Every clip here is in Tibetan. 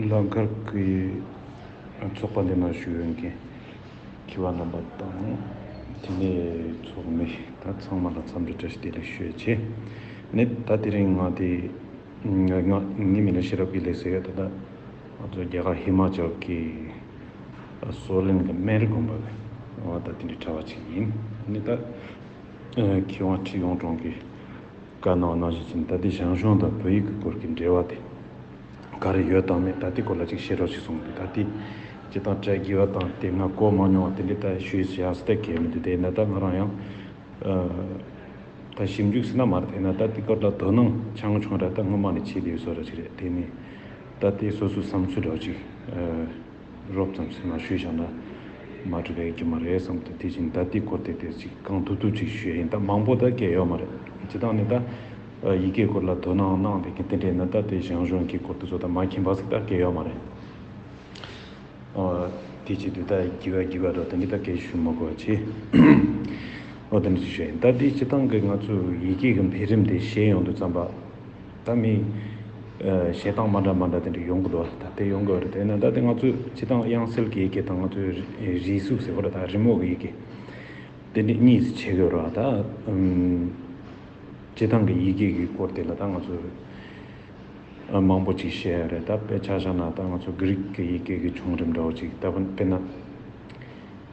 ལ་མཁར་གྱི་ཚོགས་པ་འདི་ན་བཞུགས་ཡོད་མཁན་གྱི་བ་རྣམ་པ་དང་དེ་ནས་ཚོགས་མི་དང་ཚང་མ་ལ་འཚམས་འདྲི་བཀྲ་ཤིས་བདེ་ལེགས་ཞུ་ཆེད་ནི་ད་དེ་རིང་ང་དེ་ངའི་མི་ལ་ཤེས་རབ་ཀྱི་ལེགས་སེ་ད་ལྟ་ང་ཚོ་རྒྱ་གར་ཧི་མ་ཅལ་གྱི་སོ་ལིན་གྱི་སྨན་རི་དགོན་པ་ལ་ང་ད་དེ་འདྲའི་གྲྭ་བ་ཅིག་ཡིན་ནི་ད་ཁྱེད་དབང་ཁྲི་ཡོངས་གྲོང་གི། བཀའ་གནང་གནང་བཞིན་ཚུན་ད་ལྟའི་ཞང་ཞུང་དང་བོད་ཡིག་གི་སྐོར་གྱི་འབྲེལ་བ་དེ་ག་རེ་ཡོད་དང་མེད་ད་ལྟའི་སྐོར་ལ་ཅིག་ཤེས་རོགས་ཞེས་གསུངས་འདུག་ད་ལྟའི་སྤྱི་དང་བཀྲལ་དགོས་པ་དང་དེ་སྔ་གོ་མ་མྱོང་བ་དེ་འདྲའི་ལྟ་ཞུས་བྱས་ཡག་སྲིད་ད་གལ་མི་འདུག་དེས་ན་ད་ང་རང་ཡང་ད་ཞིབ་འཇུག་སྲིད་ན་མ་རེད་དེས་ན་ད་དེ་སྐོར་ལ་དོ་སྣང་ཆང་ཆུང་ར་ད་སྔོན་མ་ནས་བྱས་བསྡད་ཡོད་བཟོ་ར་ཅིག་རེད་དེ་ནས་ད་ལྟའི་སོ་སོའི་བསམ་ཚུལ་རོགས་ཅིག། རོབ་ཙམ་སེམས་ལ་ཞུས་བཞག་ན། མ་གྲུབ་པའི་རྒྱུ་མ་རེད་བསམ་དུ་དེ་བཞིན་ད་ལྟིས་སྐོར་དེ་དེར་ཅིག་གང་ཐུབ་ཐུབ་ཅིག་ཞུས་ཡིན་སྟབས་མང་པོ་ད་སྐད་ཡོད་མ་རེད། སྤྱི་སྟངས་ནི་ད། ཡི་གེའི་སྐོར་ལ་དོ་སྣང་གནང་བའི་གི་དེ་འདྲས་ན་ད་དེ་ཞང་ཞུང་གི་སྐོར་དེ་ཚོ་ད་མ་མཁྱེན་པ་ཟིག་ད་སྐད་ཡོད་མ་རེད། དེ་བྱེད་དུས་ད་བགྱི་བ་བགྱི་བ་རོ་དེ་འདྲས་ད་སྐད་ཞུས་མ་དགོས་པ་ཆེ། ཨོ་དེ་འདྲས་ཅིག་ཞུས་ཡིན་སྟབས་དེའི་སྤྱི་སྟངས་གི་ང་ཚོས་ཡི་གེ་གི་འཕེལ་རིམ་དེ་ཤེས་ཡོང་དུ་བརྩམས་པ། ད་མི། བྱེད་སྟངས་མ་འདྲ་མ་འདྲ་དེ་འདྲ་ཡོང་གི་འདུག་ད་དེ་ཡོང་གི་ཡོད་རེད་དེ་ནི་ད་དེ་ང་ཚོས་བྱེད་སྟངས་དབྱངས་གསལ་གྱི་ཡི་གེ་དང་ང་ཚོའི་རིས་གཟུགས་ཟེར་བ་རེད་ད་རི་མོ་གི་ཡི་གེ། དེ་འདྲ་གཉིས་སུ་ཕྱེ་གི་ཡོད་རེད་ད། བྱེད་སྟངས་ཀྱི་ཡི་གེ་གི་སྐོར་དེ་ལ་ད་ང་ཚོས་མང་པོ་ཅིག་བཤད་ཡོད་རེད་ད་དཔེ་ཆ་བཞག་ན་ད་ང་ཚོ་གྷི་རིག་གི་ཡི་གེ་གི་བྱུང་རིམ་འདྲ་བོ་ཅིག་ད་དཔེར་ན།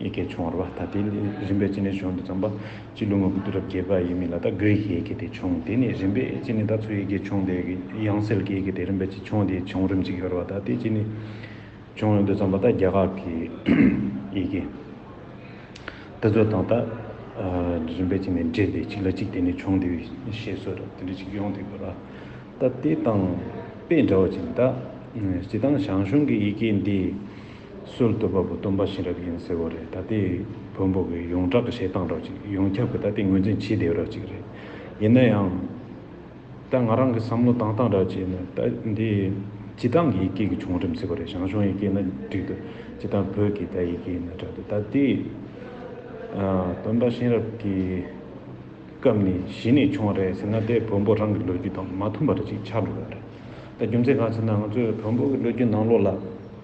ཡི་གེ་བྱུང་བར་བ་ད་དེ་ནི་རིམ་པས་ཅི་ནས་བྱུང་དུ་བརྩམས་པ། སྤྱི་ལོ་ང་དགུ་དུས་རབས་བརྒྱད་པ་ཡི་མི་ལ་ད་གོའི་ཡི་གེ་དེ་བྱུང་དེ་ནི་རིམ་པས་ཅི་ནས་ད་ཚུ་ཡི་གེ་བྱུང་དེ་དབྱངས་གསལ་གྱི་ཡི་གེ་དེ་རིམ་པས་ཅི་བྱུང་དེའི་བྱུང་རིམ་ཅིག་ཡོད་རེད་བ་ད་དེ་ཅི་ནས་བྱུང་ཡོང་དུ་བརྩམས་པ་ད་རྒྱ་གར་གྱི་ཡི་གེ་ད་ཚུ་དང་ད་རིམ་པས་ཅི་ནས་འདྲེས་ཏེ་གཅིག་ལ་གཅིག་བརྟེན་ནས་བྱུང་དེ་ཞེས་སོགས་དེ་འདྲ་ཅིག་ཡོང་དུ་ཡོད་ར་ད་དེ་དང་དཔེ་འདྲ་བ་ཅིག་ད་སྤྱི་དང་ཞང་ཞུང་གི་ཡི་གེ་འདི། སྲོལ་བཏོད་པ་པོ་སྟོན་པ་གཤེན་རབ་ཡིན་ཟེར་བ་རེད་ད་ལྟའི་བོན་པོ་གི་ཡོངས་གྲགས་ཀྱི་བཤད་སྟངས་རོགས་ཅིག་ཡོངས་ཁྱབ་ཀྱི་ད་ལྟའི་ངོས་འཛིན་ཇི་དེའི་རོགས་ཅིག་རེད་ཡིན་ན་ཡང། ད་ང་རང་གི་བསམ་བློ་བཏང་སྟངས་རག་བྱས་ནས་ད་འདི་སྤྱི་བཏང་གི་ཡིག་སྐད་ཀྱི་བྱུང་རིམ་ཟེར་བ་རེད་ཞང་ཞུང་ཡིག་སྐད་ན་འགྲིག་འདུག་སྤྱི་བཏང་བོད་ཀྱི་ད་ཡིག་སྐད་ཡིན་ན་དྲག་འདུག་ད་ལྟའི་སྟོན་པ་གཤེན་རབ་ཀྱི་སྐབས་ནི་གཞི་ནས་བྱུང་བ་རེད་ཟེར་ན་ད་ལྟའི་བོན་པོ་རང་གི་ལོ་རྒྱུས་དང་མ་མཐུན་པ་རེ་ཅིག་ཆགས་འགྲོ་གི་རེད་ད་རྒྱུ་མཚན་གང་ཟེར་ན་ང་ཚོའི་བོན་པོ་གི་ལོ་རྒྱུས་ནང་ལོགས་ལ།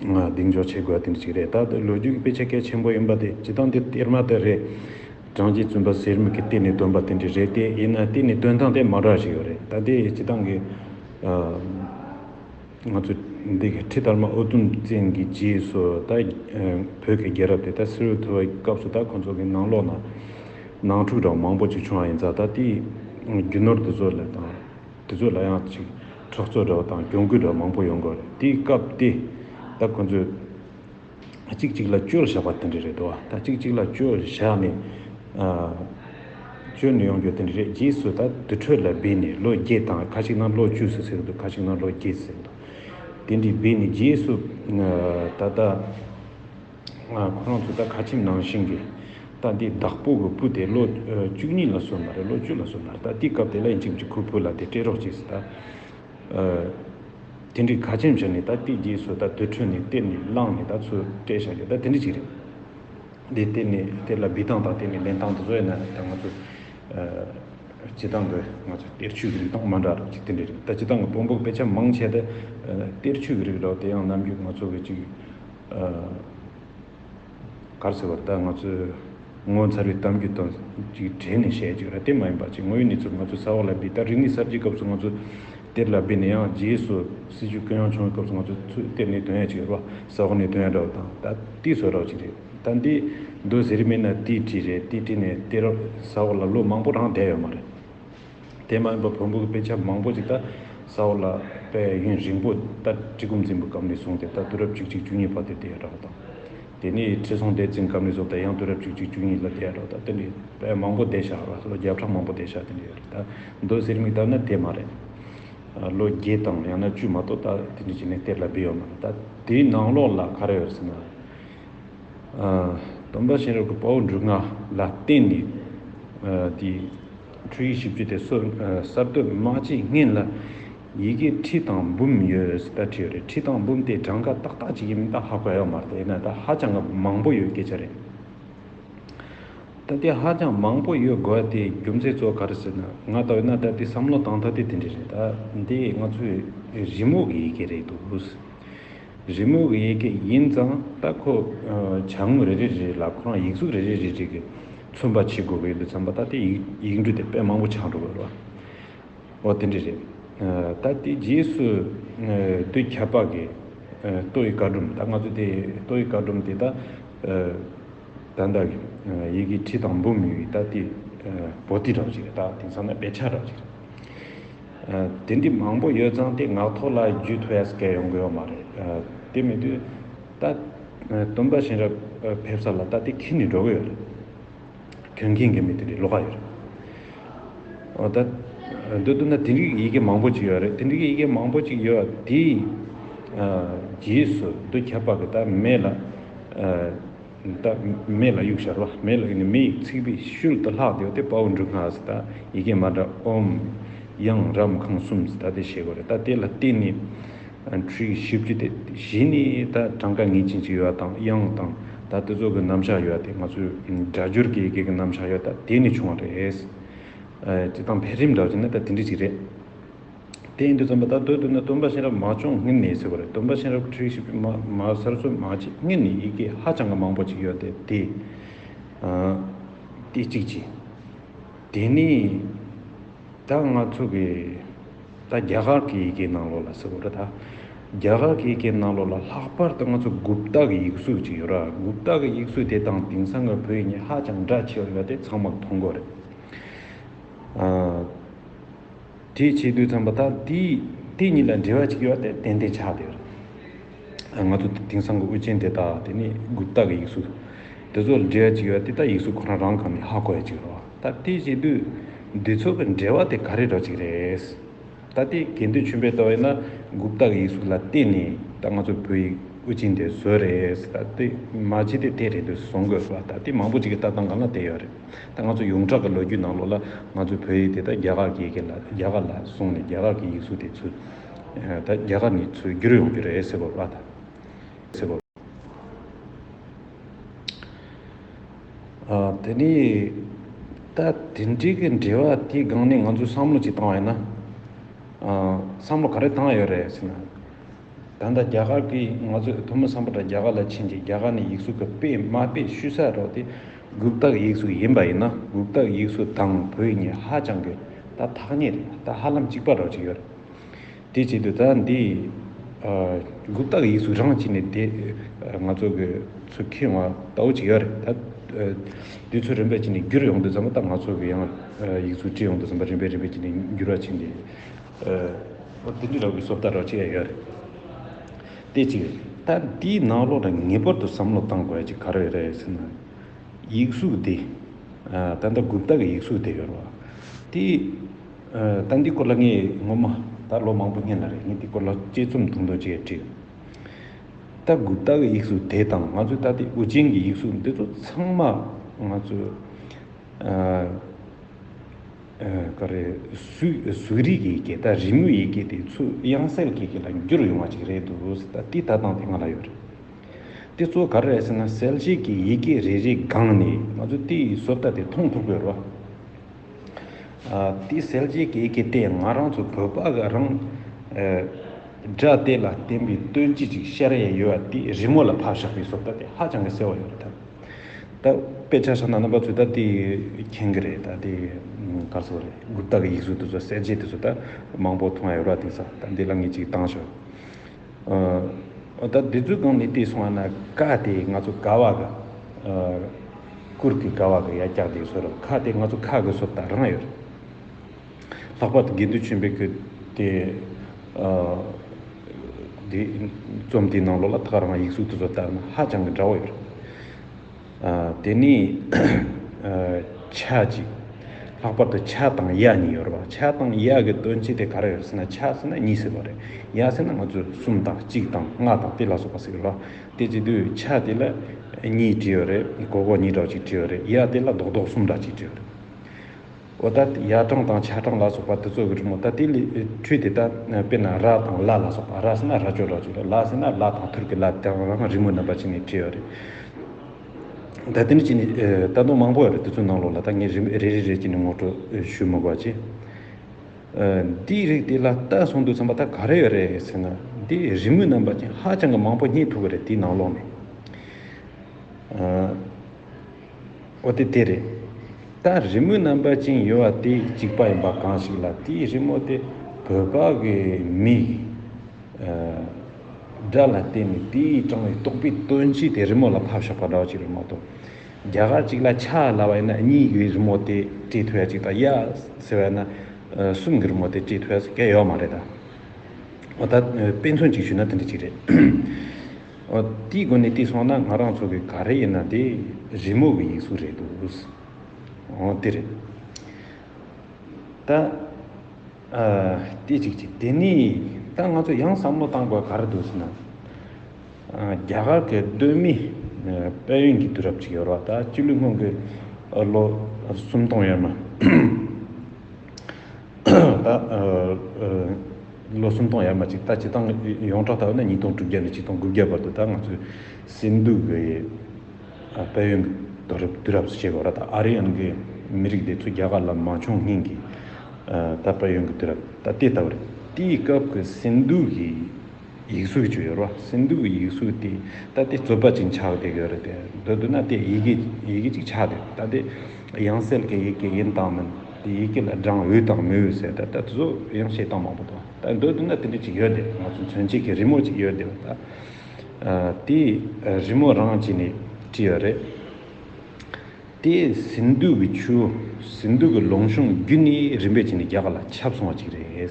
གདེང་འཇོག་བྱེད་དགོས་པ་དེ་འདྲ་ཞིག་རེད། ད་ལོ་རྒྱུས་ཀྱི་དཔེ་ཆ་གལ་ཆེན་པོ་ཡིན་པ་དེ་སྤྱི་བཏང་དེ་གཏེར་མ་དེ་རེད། གྲངས་ཀྱི་བཙུན་པ་གསེར་མིག་གིས་གཏེར་ནས་བཏོན་པ་དེ་འདྲ་རེད་དེ་ཡིན་ན་གཏེར་ནས་བཏོན་སྟངས་དེ་མང་དྲགས་ཤིག་ཡོད་རེད་ད་དེ་སྤྱི་བཏང་གི། ང་ཚོ་འདི་གི་ཁྲི་དར་མ་ཨོ་དུམ་བཙན་གྱི་རྗེས་སུ་ད་བོད་ཀྱི་རྒྱལ་རབས་དེ་ད་གསེར་འོད་འཐོར་བའི་སྐབས་སུ་ད་ཁོ་ཚོ་གི་ནང་ལོགས་ན་ནང་འཁྲུག་གྲང་མང་པོ་ཅིག་བྱུང་བ་ཡིན་ཙང་ད་དེའི་རྒྱུ་ནོར་དེ་ཚོ་ལས་དང། དེ་ཚོ་ལ་ཡང་ཅིག་ཁྲག་རྩོད་འདྲ་བོ་དང་གྱོང་གུད་འདྲ་བོ་མང་པོ་ཡོང་གི་རེད་དེའི་སྐབས་དེ་ད་ཁོ་ཚོས་གཅིག་གཅིག་ལ་བཅོལ་བཞག་པ་དེ་འདྲ་རེད་འདུག་ད་གཅིག་གཅིག་ལ་བཅོལ་བཞག་ནས་བཅོལ་ནས་ཡོང་རྒྱུ་དེ་འདྲ་རེད་རྗེས་སུ་ད་དུར་ཁྲོད་ལ་སྦས་ནས་ལོ་བརྒྱད་དང་ཁ་ཅིག་ན་ལོ་བཅུ་ཟེར་གྱི་འདུག་ཁ་ཅིག་ན་ལོ་བརྒྱད་ཟེར་གྱི་འདུག་དེ་འདྲའི་སྦས་ནས་རྗེས་སུ་ད་ལྟ། ཁོ་རང་ཚོ་ད་ཁ་ཆེམས་ནང་བཞིན་གྱི་རྟ་འདི་བདག་པོ་གི་སྤུ་དེ་ལོ་བཅུ་གཉིས་ལ་སོན་པ་རེད་ལོ་བཅུ་ལ་སོན་པ་རེད་ད་དེའི་སྐབས་དེ་ལ་ཡིན་གཅིག་མཆི་ཁོའི་བུ་ལ་དེ་སྤྲད་རོགས་གྱིས་ད། དེ་འདྲའི་ཁ་ཆེམས་བྱས་ནས་ད་སྟེ་རྗེས་སུ་ད་དུད་ཁྲོད་ནས་གཏེར་ནས་བླངས་ནས་ད་ཚུར་སྤྲད་བཞག་གི་ད་དེ་འདྲ་གཅིག་རེད། དེ་གཏེར་ནས་གཏེར་ལ་འབུད་སྟངས་དང་གཏེར་ནས་ལེན་སྟངས་དེ་ཚོ་ཡིན་ན་ད་ང་ཚོ་བྱེད་སྟངས་ཀྱི་ང་ཚོ་གཏེར་ཆོས་ཀྱི་རིགས་དང་མ་འདྲ་རོགས་གཅིག་དེ་འདྲ་རེད་ད་བྱེད་སྟངས་ཀྱི་བོང་བུ་དཔེ་ཆ་མང་ཆེ་ད་གཏེར་ཆོས་ཀྱི་རིགས་རོགས་དེ་ཡང་ནམ་རྒྱུན་ང་ཚོ་གི་གཅིག་གར་ཟེར་བ་རྟགས་ང་ཚོས་ངོ་མཚར་བའི་གཏམ་རྒྱུད་དང་ཅིག་འབྲེལ་ནས་བཤད་ཅིག་ར་དེ་མ་ཡིན་པ་ཅིག་དངོས་ཡོད་གནས་ཚུལ་ང་ཚོས་ས་འོག་ལ་འདི་ལྟར་རིག་གནས་གསར་བརྗེའི་སྐབས་སུ་ང་ཚོ་གཏེར་ལ་སྦས་ནས་ཡང་རྗེས་སུ་སྲིད་ཇུས་ཀྱང་ཡང་བྱུང་བའི་སྐབས་སུ་ང་ཚོས་ཚུར་གཏེར་ནས་དོན་ཡག་ཅིག་ཡོད་པ་ས་འོག་ནས་དོན་ཡག་འདྲ་བ་དང་ད་ལྟའི་བཟོ་གྲྭ་བ་ཅིག་རེད་ད་འདི་འདོད་ཟེར་རིན་མེད་ན་ཏི་ཏྲི་རེད་ཏི་ཏྲི་ནས་གཏེར་ས་འོག་ལ་ལོ་མང་པོ་རང་བསྡད་ཡོད་མ་རེད། དེ་མ་ཡིན་པར་བོན་པོའི་དཔེ་ཆ་མང་པོ་ཅིག་ད་ས་འོག་ལ་དཔལ་ཡོན་རིང་པོ་ལྟར་གྲི་གུམ་འཛིན་པའི་སྐབས་ནས་བཟུང་སྟེ་ད་དུས་རབས་བཅུ་གཅིག་བཅུ་གཉིས་བར་དུ་བསྡད་ཡོད་འདྲ་བ་དང། དེ་ནས་ཁྲི་སྲོང་ལྡེ་བཙན་སྐབས་ནས་བཟུང་སྟེ་ཡང་དུས་རབས་བཅུ་གཅིག་བཅུ་གཉིས་ལ་བསྡད་ཡོད་འདྲ་བ་དང་དེ་འདྲའི་དཔེ་མང་པོ་བསྡད་ཤག་ལོ་བརྒྱ་ཕྲག་མང་པོ་བསྡད་ཤག་དེ་འདྲ་ཡོད་རེད་ད་མདོ་གཟེར་མིག་ལྟར་ན་དེ་མ་རེད། ལོ་བརྒྱད་དང་ཡང་ན་བཅུ་མ་གཏོགས་ད་དེ་འདྲ་བྱས་ནས་གཏེར་ལ་སྦས་ཡོད་མ་རེད་ད་དེའི་ནང་ལོགས་ལ་ག་རེ་ཡོད་ཟེར་ན། སྟོན་པ་གཤེན་རབ་ཀྱི་དཔའ་བོ་འབྲུ་ལྔ་ལ་བརྟེན་ནས་དེའི། འཕྲུལ་ཡིག་བཞི་བཅུ་དེ་གསར་གཏོད་མ་བྱེད་སྔན་ལ་ཡི་གེ་ཁྲི་དང་འབུམ་ཡོད་ཟེར་ད་ཁྲི་རེད་ཁྲི་དང་འབུམ་དེ་གྲངས་ཀ་ཏག་ཏག་ཅིག་ཡིན་མིན་ད་ཧ་གོ་ཡག་མ་རེད་ཡིན་ན་ད་ཧ་ཅང་གི་མང་པོ་ཡོད་སྐད་ཆ་རེད། ད་དེ་ཧ་ཅང་མང་པོ་ཡོད་དགོས་དེའི་རྒྱུ་མཚན་གཙོ་བོ་ག་རེད་ཟེར་ན་ང་ལྟ་བས་ན་ད་དེ་བསམ་བློ་བཏང་ཐབས་དེ་དེ་འདྲ་རེད་ད་འདི་ང་ཚོའི་རི་མོ་གི་ཡི་གེ་རེད་འདུག། རི་མོ་གི་ཡི་གེ་ཡིན་ཙང་ལྟ་ཁོ། བྱ་དངོས་རེ་རེ་རེ་ལ་ཁོ་རང་ཡིག་གཟུགས་རེ་རེ་རེ་རེ་གི་མཚོན་པ་བྱེད་དགོས་ཀྱི་འདུག་བསམ་པ་ལྟ་སྟེ་ཡིག་འབྲུ་དེ་དཔེ་མང་པོ་ཆགས་འགྲོ་གི་རེད། འོ་དེ་འདྲ་རེད། ད་ལྟའི་རྗེས་སུ་བསྡུས་ཁྱད་འཕགས་ཀྱི་ལྟོ་ཡི་བཀའ་སྒྲོམ་ད་ང་ཚོས་དེ་ལྟོ་ཡི་བཀའ་སྒྲོམ་དེ་དག་ད་ལྟ་ཡི་གེ་ཁྲི་དང་འབུམ་ཡོད་ཀྱི་ལྟ་སྟེ་པོ་ཏི་འདྲ་བོ་ཅིག་རེད་ད་དེང་སང་ན་དཔེ་ཆ་འདྲ་བོ་ཅིག་རེད། དེ་འདྲའི་མང་པོ་ཡོད་ཙང་དེ་ངག་ཐོག་ལ་བརྒྱུད་ཐུབ་ཡ་ས་ཀའི་ཡོང་གི་ཡོད་མ་རེད། དེ་མི་དུས་ད། སྟོན་པ་གཤེན་རབ་ཕེབས་ས་ལ་ད་དེ་ཁྱེར་ནས་འགྲོ་གི་ཡོད་རེད། གྱོན་མཁན་གྱི་མི་དེ་འདྲའི་བློ་ཁ་ཡོད་རེད། ད། འདོད་དུ་ན་དེ་འདྲའི་ཡི་གེ་མང་པོ་ཅིག་ཡོད་རེད་དེ་འདྲའི་ཡི་གེ་མང་པོ་ཅིག་ཡོད་པ་དེའི། རྗེས་སུ་འདུ་ཁྱབ་པ་གི་ད་མེད་ལ། ད་མེ་ལ་དབྱུག་ཤར་བ་མེ་ལ་ཡིག་ནི་མེ་ཡིག་ཚིག་པའི་ཤུལ་དུ་ལྷག་བདེའོ་སྟེ་དཔའ་བོ་འབྲུ་སྔགས་སུ་ད་ཡི་གེ་མ་འདྲ་འོམ། དབྱངས་རམ་ཁང་གསུམ་སུ་ད་དེ་བྱེད་དགོས་རེད་ད་དེ་ལ་བརྟེན་ནས་འཕྲུལ་གྱི་བཞི་བཅུ་སྟེ་བཞི་ནི་ད་གྲངས་ཀ་ངེས་ཅན་ཅིག་ཡོད་དང་དབྱངས་དང་ད་དེ་ཚོ་གི་རྣམ་གཞག་ཡོད་དེ་ང་ཚོའི་སྒྲ་སྦྱོར་གྱི་ཡི་གེ་གི་རྣམ་གཞག་ཡོད་ད་དེ་ནས་བྱུང་བ་རེད། སྤྱི་དང་འཕེལ་རིམ་འདྲ་བ་བྱས་ན་ད་དེ་འདྲ་ཅིག་རེད། གཏན་དུ་བརྩམས་པ་དག་དོད་དུ་ན་སྟོན་པ་གཤེན་རབ་མ་བྱུང་ངེད་ནི་ཟེར་བ་རེད་སྟོན་པ་གཤེན་རབ་ཁྲི་ཞིག་མ་མ་གསར་བཙུགས་མ་བྱས་ངེད་ནི་ཡི་གེ་ཧ་ཅང་གི་མང་པོ་ཅིག་ཡོད་དེ་དེ་དེ་གཅིག་གཅིག་དེ་ནས་ད་ང་ཚོ་གི་ད་རྒྱ་གར་གི་ཡི་གེའི་ནང་ལོགས་ལ་ཟེར་བ་རེད་ད་རྒྱ་གར་གི་ཡི་གེའི་ནང་ལོགས་ལ་ལྷག་པར་དུ་ང་ཚོ་གུབ་ཏག་གི་ཡིག་གཟུགས་ཅིག་ཡོད་ར་གུབ་ཏག་གི་ཡིག་གཟུགས་དེ་དང་དེང་སང་གི་བོད་ཡིག་གཉིས་ཧ་ཅང་འདྲ་ཆེ་བ་ཡོད་དེ་ཚང་མར་མཐོང་དགོས་རེད། དེས་བྱས་དུས་ཚང་པ་དག་དེས་དེ་གཉིས་ལ་འབྲེལ་བ་ཅིག་ཡོད་དེ་དེ་འདི་ཆགས་དེ་རེད། ང་ཚོ་དེ་དེང་སང་གི་དབུ་ཅན་དེ་དག་དེ་ནི་གུ་དག་གི་ཡིག་གཟུགས་དེ་ཚོ་ལ་འབྲེལ་བ་ཅིག་ཡོད་དེ་ད་ཡིག་གཟུགས་ཁོ་རང་རང་གང་ནས་ཧ་གོ་ཡ་ཅིག་རོ། ད་དེས་བྱས་དུས་འདི་ཚོ་གི་འབྲེལ་བ་དེ་ག་རེ་རོ་ཅིག་རེད། ད་དེ་གན་དུས་ཆུན་པས་ལྟ་བ་ཡིན་ན་གུ་དག་གི་ཡིག་གཟུགས་ལ་བརྟེན་ནས་ད་ང་ཚོ་བོད་ཡིག་དབུ་ཅན་དེ་བཟོས་རེད། ད་དེ་མ་བྱས་དེ་དེ་རེད་འདོད་བཟོ་དགོས་པ་ད་དེ་མང་པོ་ཅིག་གི་ལྟ་སྟངས་གང་ལ་བལྟས་ཡོད་རེད། ད་ང་ཚོ་ཡོངས་གྲགས་ཀྱི་ལོ་རྒྱུས་ནང་ལོགས་ལ་ང་ཚོའི་བོད་ཡིག་དེ་ད་རྒྱ་གར་གྱིས་ཀྱི་ལ་རྒྱ་གར་ལ་བཟུང་ནས་རྒྱ་གར་གྱི་ཡིག་གཟུགས་དེ་ཚུད་ད་རྒྱ་གར་ནས་ཚུད་བསྒྱུར་ཡོང་རྒྱུ་རེད་ཟེར་བ་ཨ་ད། ཨ་དེ་ནས་ད་དེ་འདྲིའི་གི་འབྲེལ་བ་དེའི་སྒང་ནས་ང་ཚོས་བསམ་བློ་ཅིག་བཏང་བ་ཡིན་ན། ཨ་བསམ་བློ་ག་རེ་བཏང་ཡོད་རེད་ཟེར་ན། ད་ལྟ་རྒྱ་གར་གྱིས་ང་ཚོས་ཐུ་མི་བསམ་པ་འདྲ་རྒྱ་གར་ལ་ཕྱིན་རྗེས་རྒྱ་གར་ནས་ཡིག་གཟུགས་གི་དཔེ་དམའ་དཔེ་བཤུས་ས་རོགས་དེ། གུག་རྟགས་ཡིག་གཟུགས་ཡིན་པ་ཡིན་ན་གུག་རྟགས་ཡིག་གཟུགས་དང་བོད་གཉིས་ཧ་ཅང་གི་ད་ཐག་ཉེ་རེད་ད་ཧ་ལམ་གཅིག་པ་རོགས་ཅིག་ཡོད་རེད་དེ་བྱེད་དུ་ད་འདི་གུག་རྟགས་ཡིག་གཟུགས་རང་གཅིག་ནས་དེ་ང་ཚོ་གི་ཚུ་ཁེ་ང་ལྟ་བུ་ཅིག་ཡོད་རེད་ད་དེ་ཚོ་རིམ་པས་ཅིག་ནས་བསྒྱུར་ཡོང་དུ་འཛམ་པ་ད་ང་ཚོ་གི་ཡང་ཡིག་གཟུགས་བྲིས་ཡོང་དུ་འཛམ་པ་རིམ་པས་རིམ་པས་ཅིག་ནས་བསྒྱུར་བ་ཅིག་འདི་འདི་ལོག་གི་སོབ་ད་རོགས་ཅིག་ཡ་ཡོད་རེད། དེ་ཅིག་རེད། ད་འདིའི་ནང་ལོགས་ལ་ངེས་པར་དུ་བསམ་བློ་གཏང་དགོས་ཀྱི་ག་རེ་རེད་ཟེར་ན། ཡིག་གཟུགས་འདི། ད་ལྟ་གུབ་རྟ་གི་ཡིག་གཟུགས་འདི་ཡོད་རེད་བ། དེ། ད་འདི་སྐོར་ལ་ངས་ངོ་མ་ད་ལོ་མང་པོ་སྙན་ལ་རེད་ངས་འདི་སྐོར་ལ་དཔྱད་རྩོམ་ཐུང་ཐུང་ཅིག་ཡང་བྲིས་ཡོད། ད་གུབ་རྟ་གི་ཡིག་གཟུགས་དེ་དང་ང་ཚོའི་ད་ལྟའི་དབུ་ཅན་གྱི་ཡིག་གཟུགས་འདི་ཚོ་ཚང་མ་ང་ཚོའི། ཀ་རེད། གཟུགས་རིས་ཀྱི་གད་སྟ་རི་མོའི་ཡི་གེ་དེ་ཚོས་དབྱངས་གསལ་གྱི་གེ་ལ་འགྱུར་ཡོང་བ་ཅིག་རེད་འདུག་ད་འདི་ལྟ་སྟངས་དེ་ང་ལ་ཡོད་རེད། དེ་ཚོ་ག་རེད་ཟེར་ན་གསལ་བྱེད་ཀྱི་ཡི་གེ་རེ་རེའི་སྒང་ནས་ང་ཚོས་དེའི་བཟོ་ལྟ་དེ་མཐོང་ཐུབ་དགོས་རོགས། དེ་གསལ་བྱེད་ཀྱི་ཡི་གེ་དེས་ང་རང་ཚོ་བོད་པ་ག་རང་སྒྲ་དེ་ལ་བརྟེན་པའི་སྟོན་དཔྱིད་ཅིག་ཤར་ཡས་ཡོད་བ་དེ་རི་མོ་ལ་ཕབ་བཞག་པའི་བཟོ་ལྟ་དེ་ཧ་ཅང་གི་གསལ་བོ་ཡོད་རེད་ད། ད་དཔེ་ཆ་ཆགས་ན་རྣམ་པ་ཚོས་ད་དེ་མཁྱེན་གི་རེད་ད་དེ་ག་ཚོད་རེད་འགུར་སྟག་གི་ཡིག་གཟུགས་དེ་ཚོ་གསལ་བྱེད་དེ་ཚོ་ད་མང་པོ་མཐོང་ཡ་ཡོད་ར་དེང་སང་ད་འདི་ལ་ངས་ཅིག་བཏང་ཞོག་ཨ་ད་དེ་ཚོའི་སྒང་ནས་བལྟས་སོང་ང་ན་ཀ་དེ་ང་ཚོ་ག་བ་གི་ཨ་ཀུར་དེ་ག་བ་གི་ཡ་སྐྱག་དེ་ཚོ་རེད་ཁ་དེ་ང་ཚོ་ཁ་གི་སོབ་ད་རང་ཡོད་རེད། ལྷག་པར་དུ་དགེ་འདུན་ཆོས་འཕེལ་ཁྱོད་དེ། དེ། རྩོམ་དེའི་ནང་ལོགས་ལ་ཐག་རིང་བ་ཡིག་གཟུགས་དེ་ཚོ་ལྟར་ན་ཧ་ཅང་གི་འདྲ་བོ་ཡོད། དེ་ནས། ཆ་གཅིག། ལྷག་པར་དུ་ཆ་དང་ཡ་གཉིས་ཡོད་རེད། ཆ་དང་ཡ་གི་དོན་སྤྱི་དེ་ག་རེ་ཡོད་ཟེར་ན་ཆ་ཟེར་ན་གཉིས་ཟེར་བ་རེད། ཡ་ཟེར་ན་ང་ཚོས་གསུམ་དང་གཅིག་དང་ལྔ་དང་དེ་ལ་སོགས་པ་ཟེར་གི་རེད། དེ་བྱེད་དུས་ཆ་དེ་ལ་གཉིས་བྲིས་ཡོད་རེད། གོ་གོ་གཉིས་དྲག་གཅིག་བྲིས་ཡོད་རེད། ཡ་དེ་ལ་རྡོག་རྡོག་གསུམ་དྲག་གཅིག་བྲིས་ཡོད་རེད། འོ་ད་ཡ་གྲངས་དང་ཆ་གྲངས་ལ་སོགས་པ་དེ་ཚོ་རིག་མོད་ད་དེ་ལས་འཕྲོས་ཏེ་ད་དཔེར་ན་ར་དང་ལ་ལ་སོགས་པ་ར་ཟེར་ན་ར་ཅོ་ར་ཅོ་ལ་ཟེར་ན་ལ་དང་ཐུར་གྱི་ལ་དེ་རང་རིག་མོའི་རྣམ་པ་ཅིག་ནས་བྲིས་པ་རེད། ད་དེ་འདྲ་ཅིག་ནི་ད་དུང་མང་པོ་ཡོད་རེད་དེ་ཚོའི་ནང་ལོགས་ལ་ད་ངས་རིག་མོ་རེ་རེ་རེ་ཅིག་ནས་ངོ་སྤྲོད་ཞུ་མི་དགོས་ཀྱི། འདིའི་རིགས་དེ་ལ་ལྟ་སོང་འདུག་བསམ་པ་ད་ག་རེ་ཡོད་རེད་ཟེར་ན་འདི་རིག་མོའི་རྣམ་པ་ཅན་ཧ་ཅང་གི་མང་པོ་རྙེད་ཐུབ་ཀྱི་རེད་དེའི་ནང་ལོགས་ནས། ཨོ་དེ་དེ་རེད། ད་རི་མོའི་རྣམ་པ་ཅན་ཡོད་བ་དེ་གཅིག་པ་ཡིན་པ་གང་ཞིག་ལ་དེའི་རི་མོ་དེ་བོད་པ་གི་མིག་སྒྲ་ལ་བརྟེན་ནས་དེའི་དྲང་བའི་རྟོག་པའི་དོན་སྤྱི་དེ་རི་མོ་ལ་ཕབ་ཤོག་པ་འདྲ་བ་ཅིག་རེད་མ་གཏོགས། རྒྱ་གར་ཅིག་ལ་ཆ་ལ་བ་ཡིན་ན་གཉིས་ཀྱི་རི་མོ་དེ་བྲིས་ཐུབ་ཡ་ཅིག་དང་གཡག་ཟེར་བ་ཡིན་ན་གསུམ་གྱི་རི་མོ་དེ་བྲིས་ཐུབ་ཡ་ཟེར་ག་ཡོད་མ་རེད་ད། ཨོ་ད་དཔེ་མཚོན་ཅིག་ཞུས་ན་དེ་འདྲ་ཅིག་རེད། དེའི་སྒོ་ནས་བལྟས་སོང་ན་ང་རང་ཚོ་གི་ག་རེ་ཡིན་ན་དེ་རི་མོ་གི་ཡིག་གཟུགས་རེད་འདུག། འོ་དེ་རེད། ད་ལྟས་ཅིག་ཅིག་དེ་ནས་ད་ང་ཚོ་ཡང་བསམ་བློ་བཏང་དགོས་ག་རེ་འདུག་ཟེར་ན། རྒྱ་གར་གི་གདོད་མི་དཔལ་ཡོན་གྱི་དུས་རབས་ཅིག་ཡོད་རོགས་ད་སྤྱི་ལོའི་སྔོན་གྱི་ལོ་སུམ་སྟོང་ཡོད་མ། ལོ་སུམ་སྟོང་ཡར་མ་གཅིག་ད་སྤྱི་སྟངས་ཡོངས་གྲགས་ལྟར་ན་ཉིས་སྟོང་དྲུག་བརྒྱ་ནས་ཆིག་སྟོང་དགུ་བརྒྱ་བར་དུ་ད་ང་ཚོའི་སིན་དྷུ་གི་དཔལ་ཡོན་དུ་རབས་དུས་རབས་སུ་བྱེད་དགོས་ར་ད་ཨ་རི་ཨན་གི་མི་རིགས་དེ་ཚོ་རྒྱ་གར་ལ་མ་མཆོངས་སྙིང་གི་ད་དཔལ་ཡོན་གི་དུས་རབས་ད་དེ་ལྟ་བུ་རེད་དེའི་སྐབས་ཀྱི་སིན་དྷུ་གི་ཡིག་གཟུགས་ཅིག་ཡོད་རོ། སིན་དྷུ་བའི་ཡིག་གཟུགས་དེ་ལྟ་སྟེ་རྩོད་པ་ཅིག་འཆགས་ཏེ་གྱོད་རེ་དེ་འདོད་འདོད་ན་དེ་ཡི་གེ་ཡི་གེ་ཅིག་ཆགས་ཏེ་ལྟ་དེ་དབྱངས་གསལ་གྱི་ཡི་གེ་ཡིན་དང་མིན་དེ་ཡི་གེ་ལ་སྦྲང་འོད་དང་མི་འོད་ཟེར་ད་ལྟ་གཟུགས་དབྱངས་བཤད་སྟངས་མང་པོ་དང་ལྟ་འདོད་འདོད་ན་དེ་འདྲ་ཅིག་ཡོད་དེ་ང་ཚོ་མཚོན་བྱེད་ཀྱི་རི་མོ་ཅིག་ཡོད་དེ་བ་ལྟ། དེ་རི་མོ་རང་གཅིག་ནས་བྲིས་པ་རེད། དེ་སིན་དྷུ་བའི་ཆུ་སིན་དྷུ་གི་ལུང་གཤོང་བརྒྱུད་ནས་རིམ་པས་ཕྱིན་ནས་རྒྱ་གར་ལ་ཁྱབ་སོང་བ་ཅིག་རེད།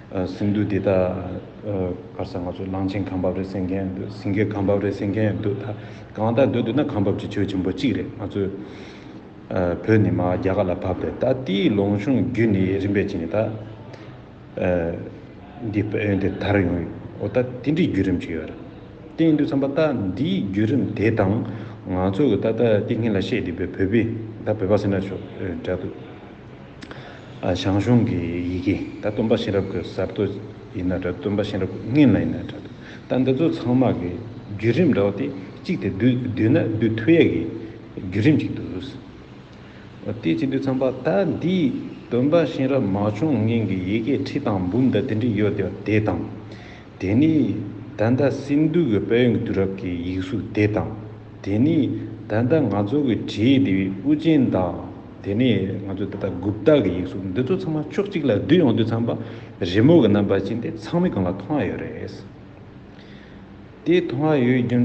སིང་འདུག་འདི་དག་གར་ས་ང་ཚོ་གླང་ཆེན་ཁང་བབས་རེད་ཟེར་མཁན་ཡང་འདུག་སིང་གའི་ཁང་བབས་རེད་ཟེར་མཁན་ཡང་འདུག་ད་གང་དག་འདོད་འདོད་ན་ཁང་བབས་ཀྱི་ཆོས་ཆེན་པོ་གཅིག་རེད་ང་ཚོས་བོད་ནི་མ་ཧཱ་རྒྱ་གར་ལ་བབས་རེད་ད་དེའི་ལོངས་གཞུང་བརྒྱུད་ནས་རིམ་པས་ཕྱིན་ནས་ད་འདི་བོད་ཡོན་དེ་དར་ཡོང་འོ་ད་དེ་འདྲའི་བརྒྱུད་རིམ་ཅིག་ཡོད་རེད་དེ་ཡིན་དུས་བསམ་པ་ད་འདིའི་བརྒྱུད་རིམ་དེ་དང་ང་ཚོ་གི་ད་ལྟ་ཏིང་ངེ་ལ་བཤད་འདུག་པའི་བོད་པའི་ད་བོད་པ་ཟེར་ན་ཆོག་འདྲ་འདུག། ཞང་ཞུང་གི་ཡི་གེ་ད་སྟོན་པ་གཤེན་རབ་ཀྱི་གསར་གཏོད་ཡིན་ན་འདྲ་སྟོན་པ་གཤེན་རབ་ཀྱི་རྔན་ལ་ཡིན་ན་འདྲ་ད་འདི་ཚོ་ཚང་མ་གི་བརྒྱུད་རིམ་འདྲ་བ་སྟེ་གཅིག་དེ་བསྡུས་ན་བསྡུས་ཐུ་ཡས་ཀྱི་བརྒྱུད་རིམ་གཅིག་འདུག་དེ་གཅིག་འདུག་ཚང་པ་ད་འདི་སྟོན་པ་གཤེན་རབ་མ་བྱུང་རྔན་གྱི་ཡི་གེ་ཁྲི་དང་འབུམ་ད་དེ་འདྲི་ཡོད་དེ་དང། དེ་ནི་ད་ལྟ་སིནྡྷུ་གི་དཔལ་ཡོན་གྱི་དུས་རབས་ཀྱི་ཡིག་གཟུགས་དེ་དང། དེ་ནི་ད་ལྟ་ང་ཚོ་གི་བྲིས་ཡིག་འདི་བའི་དབུ་ཅན་དང། དེ་ནི་ང་ཚོ་ད་ལྟ་གུབ་ཏཱ་གི་ཡིག་གཟུགས་འདི་ཚོ་ཚང་མ་ཕྱོགས་གཅིག་ལ་བསྡུས་ཡོང་དུས་ཚངས་པ་རི་མོ་གི་རྣམ་པ་ཅན་དེ་ཚང་མའི་གོང་ལ་མཐོང་ཨ་ཡོད་རེད། དེ་མཐོང་ཨ་ཡོད་རྒྱུ་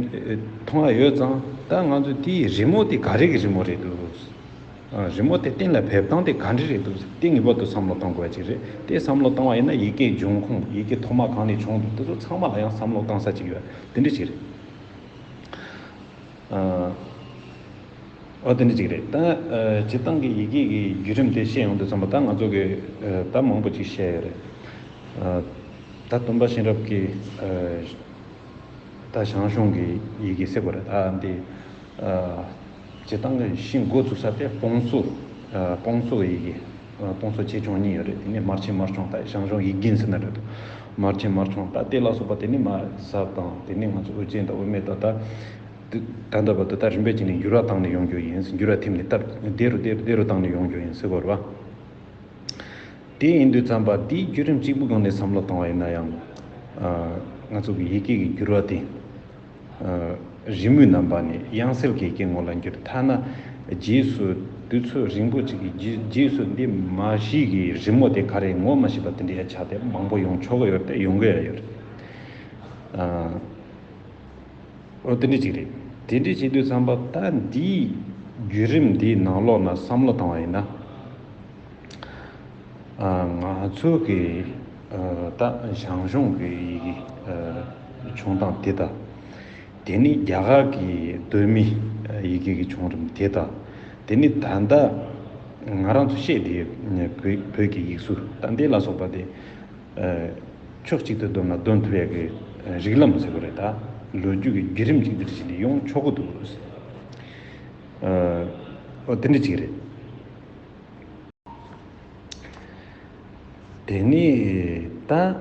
མཐོང་ཨ་ཡོད་ཙང་ད་ང་ཚོ་དེའི་རི་མོ་དེ་ག་རེ་གི་རི་མོ་རེད་འདུག། རི་མོ་དེ་གཏན་ལ་ཕེབས་སྟངས་དེ་ག་འདྲ་རེད་འདུག་དེ་ངེས་པར་དུ་བསམ་བློ་གཏང་དགོས་པ་ཅིག་རེད་དེ་བསམ་བློ་གཏང་བ་ཡིན་ན་ཡི་གེའི་འབྱུང་ཁུངས་ཡི་གེ་ཐོག་མ་གང་ནས་བྱུང་འདུག་དེ་ཚོ་ཚང་མ་ལ་ཡང་བསམ་བློ་གཏང་ས་ཅིག་ཡོད་དེ་འདྲ་ཅིག་རེད། འོ་དེ་འདྲ་ཅིག་རེད་ད། སྤྱིར་བཏང་གི་ཡི་གེ་གི་བརྒྱུད་རིམ་དེ་བཤད་ཡོང་དུས་བསམ་པ་ད་ང་ཚོ་གི་ད་མང་པོ་ཅིག་བཤད་ཡོད་རེད། ད་སྟོན་པ་གཤེན་རབ་ཀྱི་ད་ཞང་ཞུང་གི་ཡི་གེ་གསེར་པོ་རེད་ད་འདི། བྱེད་སྟངས་ཀྱི་གཞི་འགོ་འཛུགས་ས་དེ་སྤོང་གསོ། སྤོང་གསོ་ཡི་གེ། སྤོང་གསོ་ཆེད་སྦྱོང་གཉིས་ཡོད་རེད་དེ་ནས་མར་ཆེན་མར་སྦྱོང་ལྟ་ཞང་ཞུང་ཡིག་རྒན་ཟེར་ན་འགྲིག་འདུག་མར་ཆེན་མར་སྦྱོང་ལྟ་དེ་ལ་སོགས་པ་དེ་ནི་མ་གཟབ་དང་དེ་ནས་ང་ཚོ་དབུ་ཅན་དང་དབུ་མེད་ད་ལྟ་འདོད་པ་དེ་ལྟར་རིམ་པས་བྱས་ནས་འགྱུར་བ་བཏང་ནས་ཡོང་རྒྱུ་ཡིན་འགྱུར་བ་ཐེབས་ནས་སྟབས་བདེ་རུ་བདེ་རུ་བཏང་ནས་ཡོང་རྒྱུ་ཡིན་སེ་གོ་རེ་བ། དེ་ཡིན་དུས་བརྩམས་པ་འདིའི་བརྒྱུད་རིམ་གཅིག་པུའི་སྒང་ནས་བསམ་བློ་བཏང་བ་ཡིན་ན་ཡང། ང་ཚོ་གི་ཡི་གེ་ཀྱི་འགྱུར་བ་དེ། རི་མོའི་རྣམ་པ་ནི་དབྱངས་གསལ་གྱི་སྐྱེ་དངོས་ལ་འགྱུར་ཐ་ན་རྗེས་སུ་དུས་ཚོད་རིང་པོ་ཞིག་གི་རྗེས་སུ་འདི་མ་གཞི་གི་རི་མོ་དེ་ག་རེད་ངོ་མ་ཤེས་པ་དེ་འདྲའི་ཆ་དེ་མང་པོ་ཡོང་ཆོག་གི་ཡོད་དེ་ཡོང་གི་རེད་ཡོད་རེད། དེ་འདྲ་ཅིག་རེད། དེ་འདྲ་བྱེད་དུས་བསམ་པ་ད་འདིའི་བརྒྱུད་རིམ་འདིའི་ནང་ལོགས་ན་བསམ་བློ་བཏང་བ་ཡིན་ན། ང་ཚོ་གི་ད་ཞང་ཞུང་གི་བྱུང་སྟངས་དེ་དང། དེ་ནི་རྒྱ་གར་གྱི་གདོད་མི་ཡི་གེ་གི་བྱུང་རིམ་དེ་དང། དེ་ནི་ད་ལྟ་ང་རང་ཚོ་བཤད་བསྡད་པའི་བོད་ཀྱི་ཡིག་གཟུགས་ད་ལྟའི་ལ་སོགས་པ་དེ་ཕྱོགས་གཅིག་ཏུ་བསྡོམས་ན་བསྡོམས་ཐུབ་ཡག་གི་རིགས་ལམ་ཟེར་བ་རེད་ད། ལོ་རྒྱུས་ཀྱི་བརྒྱུད་རིམ་གཅིག་འདིར་བཞིན་དུ་ཡོང་ཆོག་གི་འདུག། འོ་དེ་འདྲ་གཅིག་རེད། དེ་ནས་ད།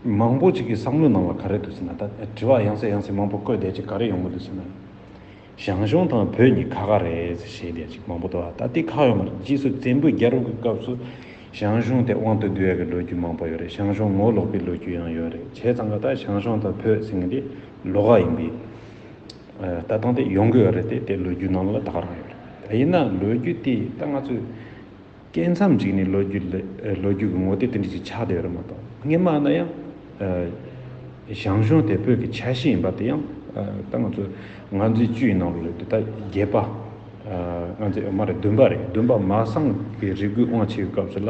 མང་པོ་ཅིག་གི་བསམ་བློའི་ནང་ལ་ག་རེ་འདུག་ཟེར་ན་ད་དྲི་བ་ཡང་སེ་ཡང་སེ་མང་པོ་བཀོད་བསྡད་ཅིག་ག་རེ་ཡོང་གི་འདུག་ཟེར་ན། ཞང་ཞུང་དང་བོད་གཉིས་ཁ་ཁ་རེད་ཟེར་བཤད་བསྡད་ཅིག་མང་པོ་འདུག་ཨ་ད་དེ་ཁག་ཡོད་མ་རེད་རྗེས་སུ་བཙན་པོའི་རྒྱལ་རོང་གི་སྐབས་སུ་ཞང་ཞུང་དེ་དབང་དུ་བསྡུ་ཡག་གི་ལོ་རྒྱུས་མང་པོ་ཡོད་རེད་ཞང་ཞུང་ངོ་ལོག་པའི་ལོ་རྒྱུས་ཡང་ཡོད་རེད་བྱས་ཙང་ཀ་ད་ཞང་ཞུང་དང་བོད་ཟེར་མཁན་དེ་ལོག་ཨ་ཡིན་པས། ལྟ་སྟངས་དེ་ཡོང་དགོས་རེད་དེ་ལོ་རྒྱུས་ནང་ལ་དག་རང་ཡོད་རེད་ཡིན་ན་ལོ་རྒྱུས་དེ་ད་ང་ཚོས་སྐྱེས་མཚམས་ཅིག་ནས་ལོ་རྒྱུས་ལོ་རྒྱུས་ཀྱི་ངོ་བསྟོད་དེ་འདྲ་ཞིག་ཆགས་བསྡད་ཡོད་རེད་མ་གཏོགས་སྔས་མ་ན་ཡང་ཞང་ཞུང་དེ་བོད་ཀྱི་ཆ་ཤས་ཡིན་པ་དེ་ཡང་ད་ང་ཚོས་ང་ཚོའི་བཅུ་ཡི་ནང་ལོ་རེད་དེ་ད་བརྒྱད་པ་ང་ཚོས་མ་རེད་བདུན་པ་རེད་བདུན་པ་མ་སངས་ཀྱི་རི་རྒོད་དབང་ཆེ་བའི་སྐབས་སུ་ལ་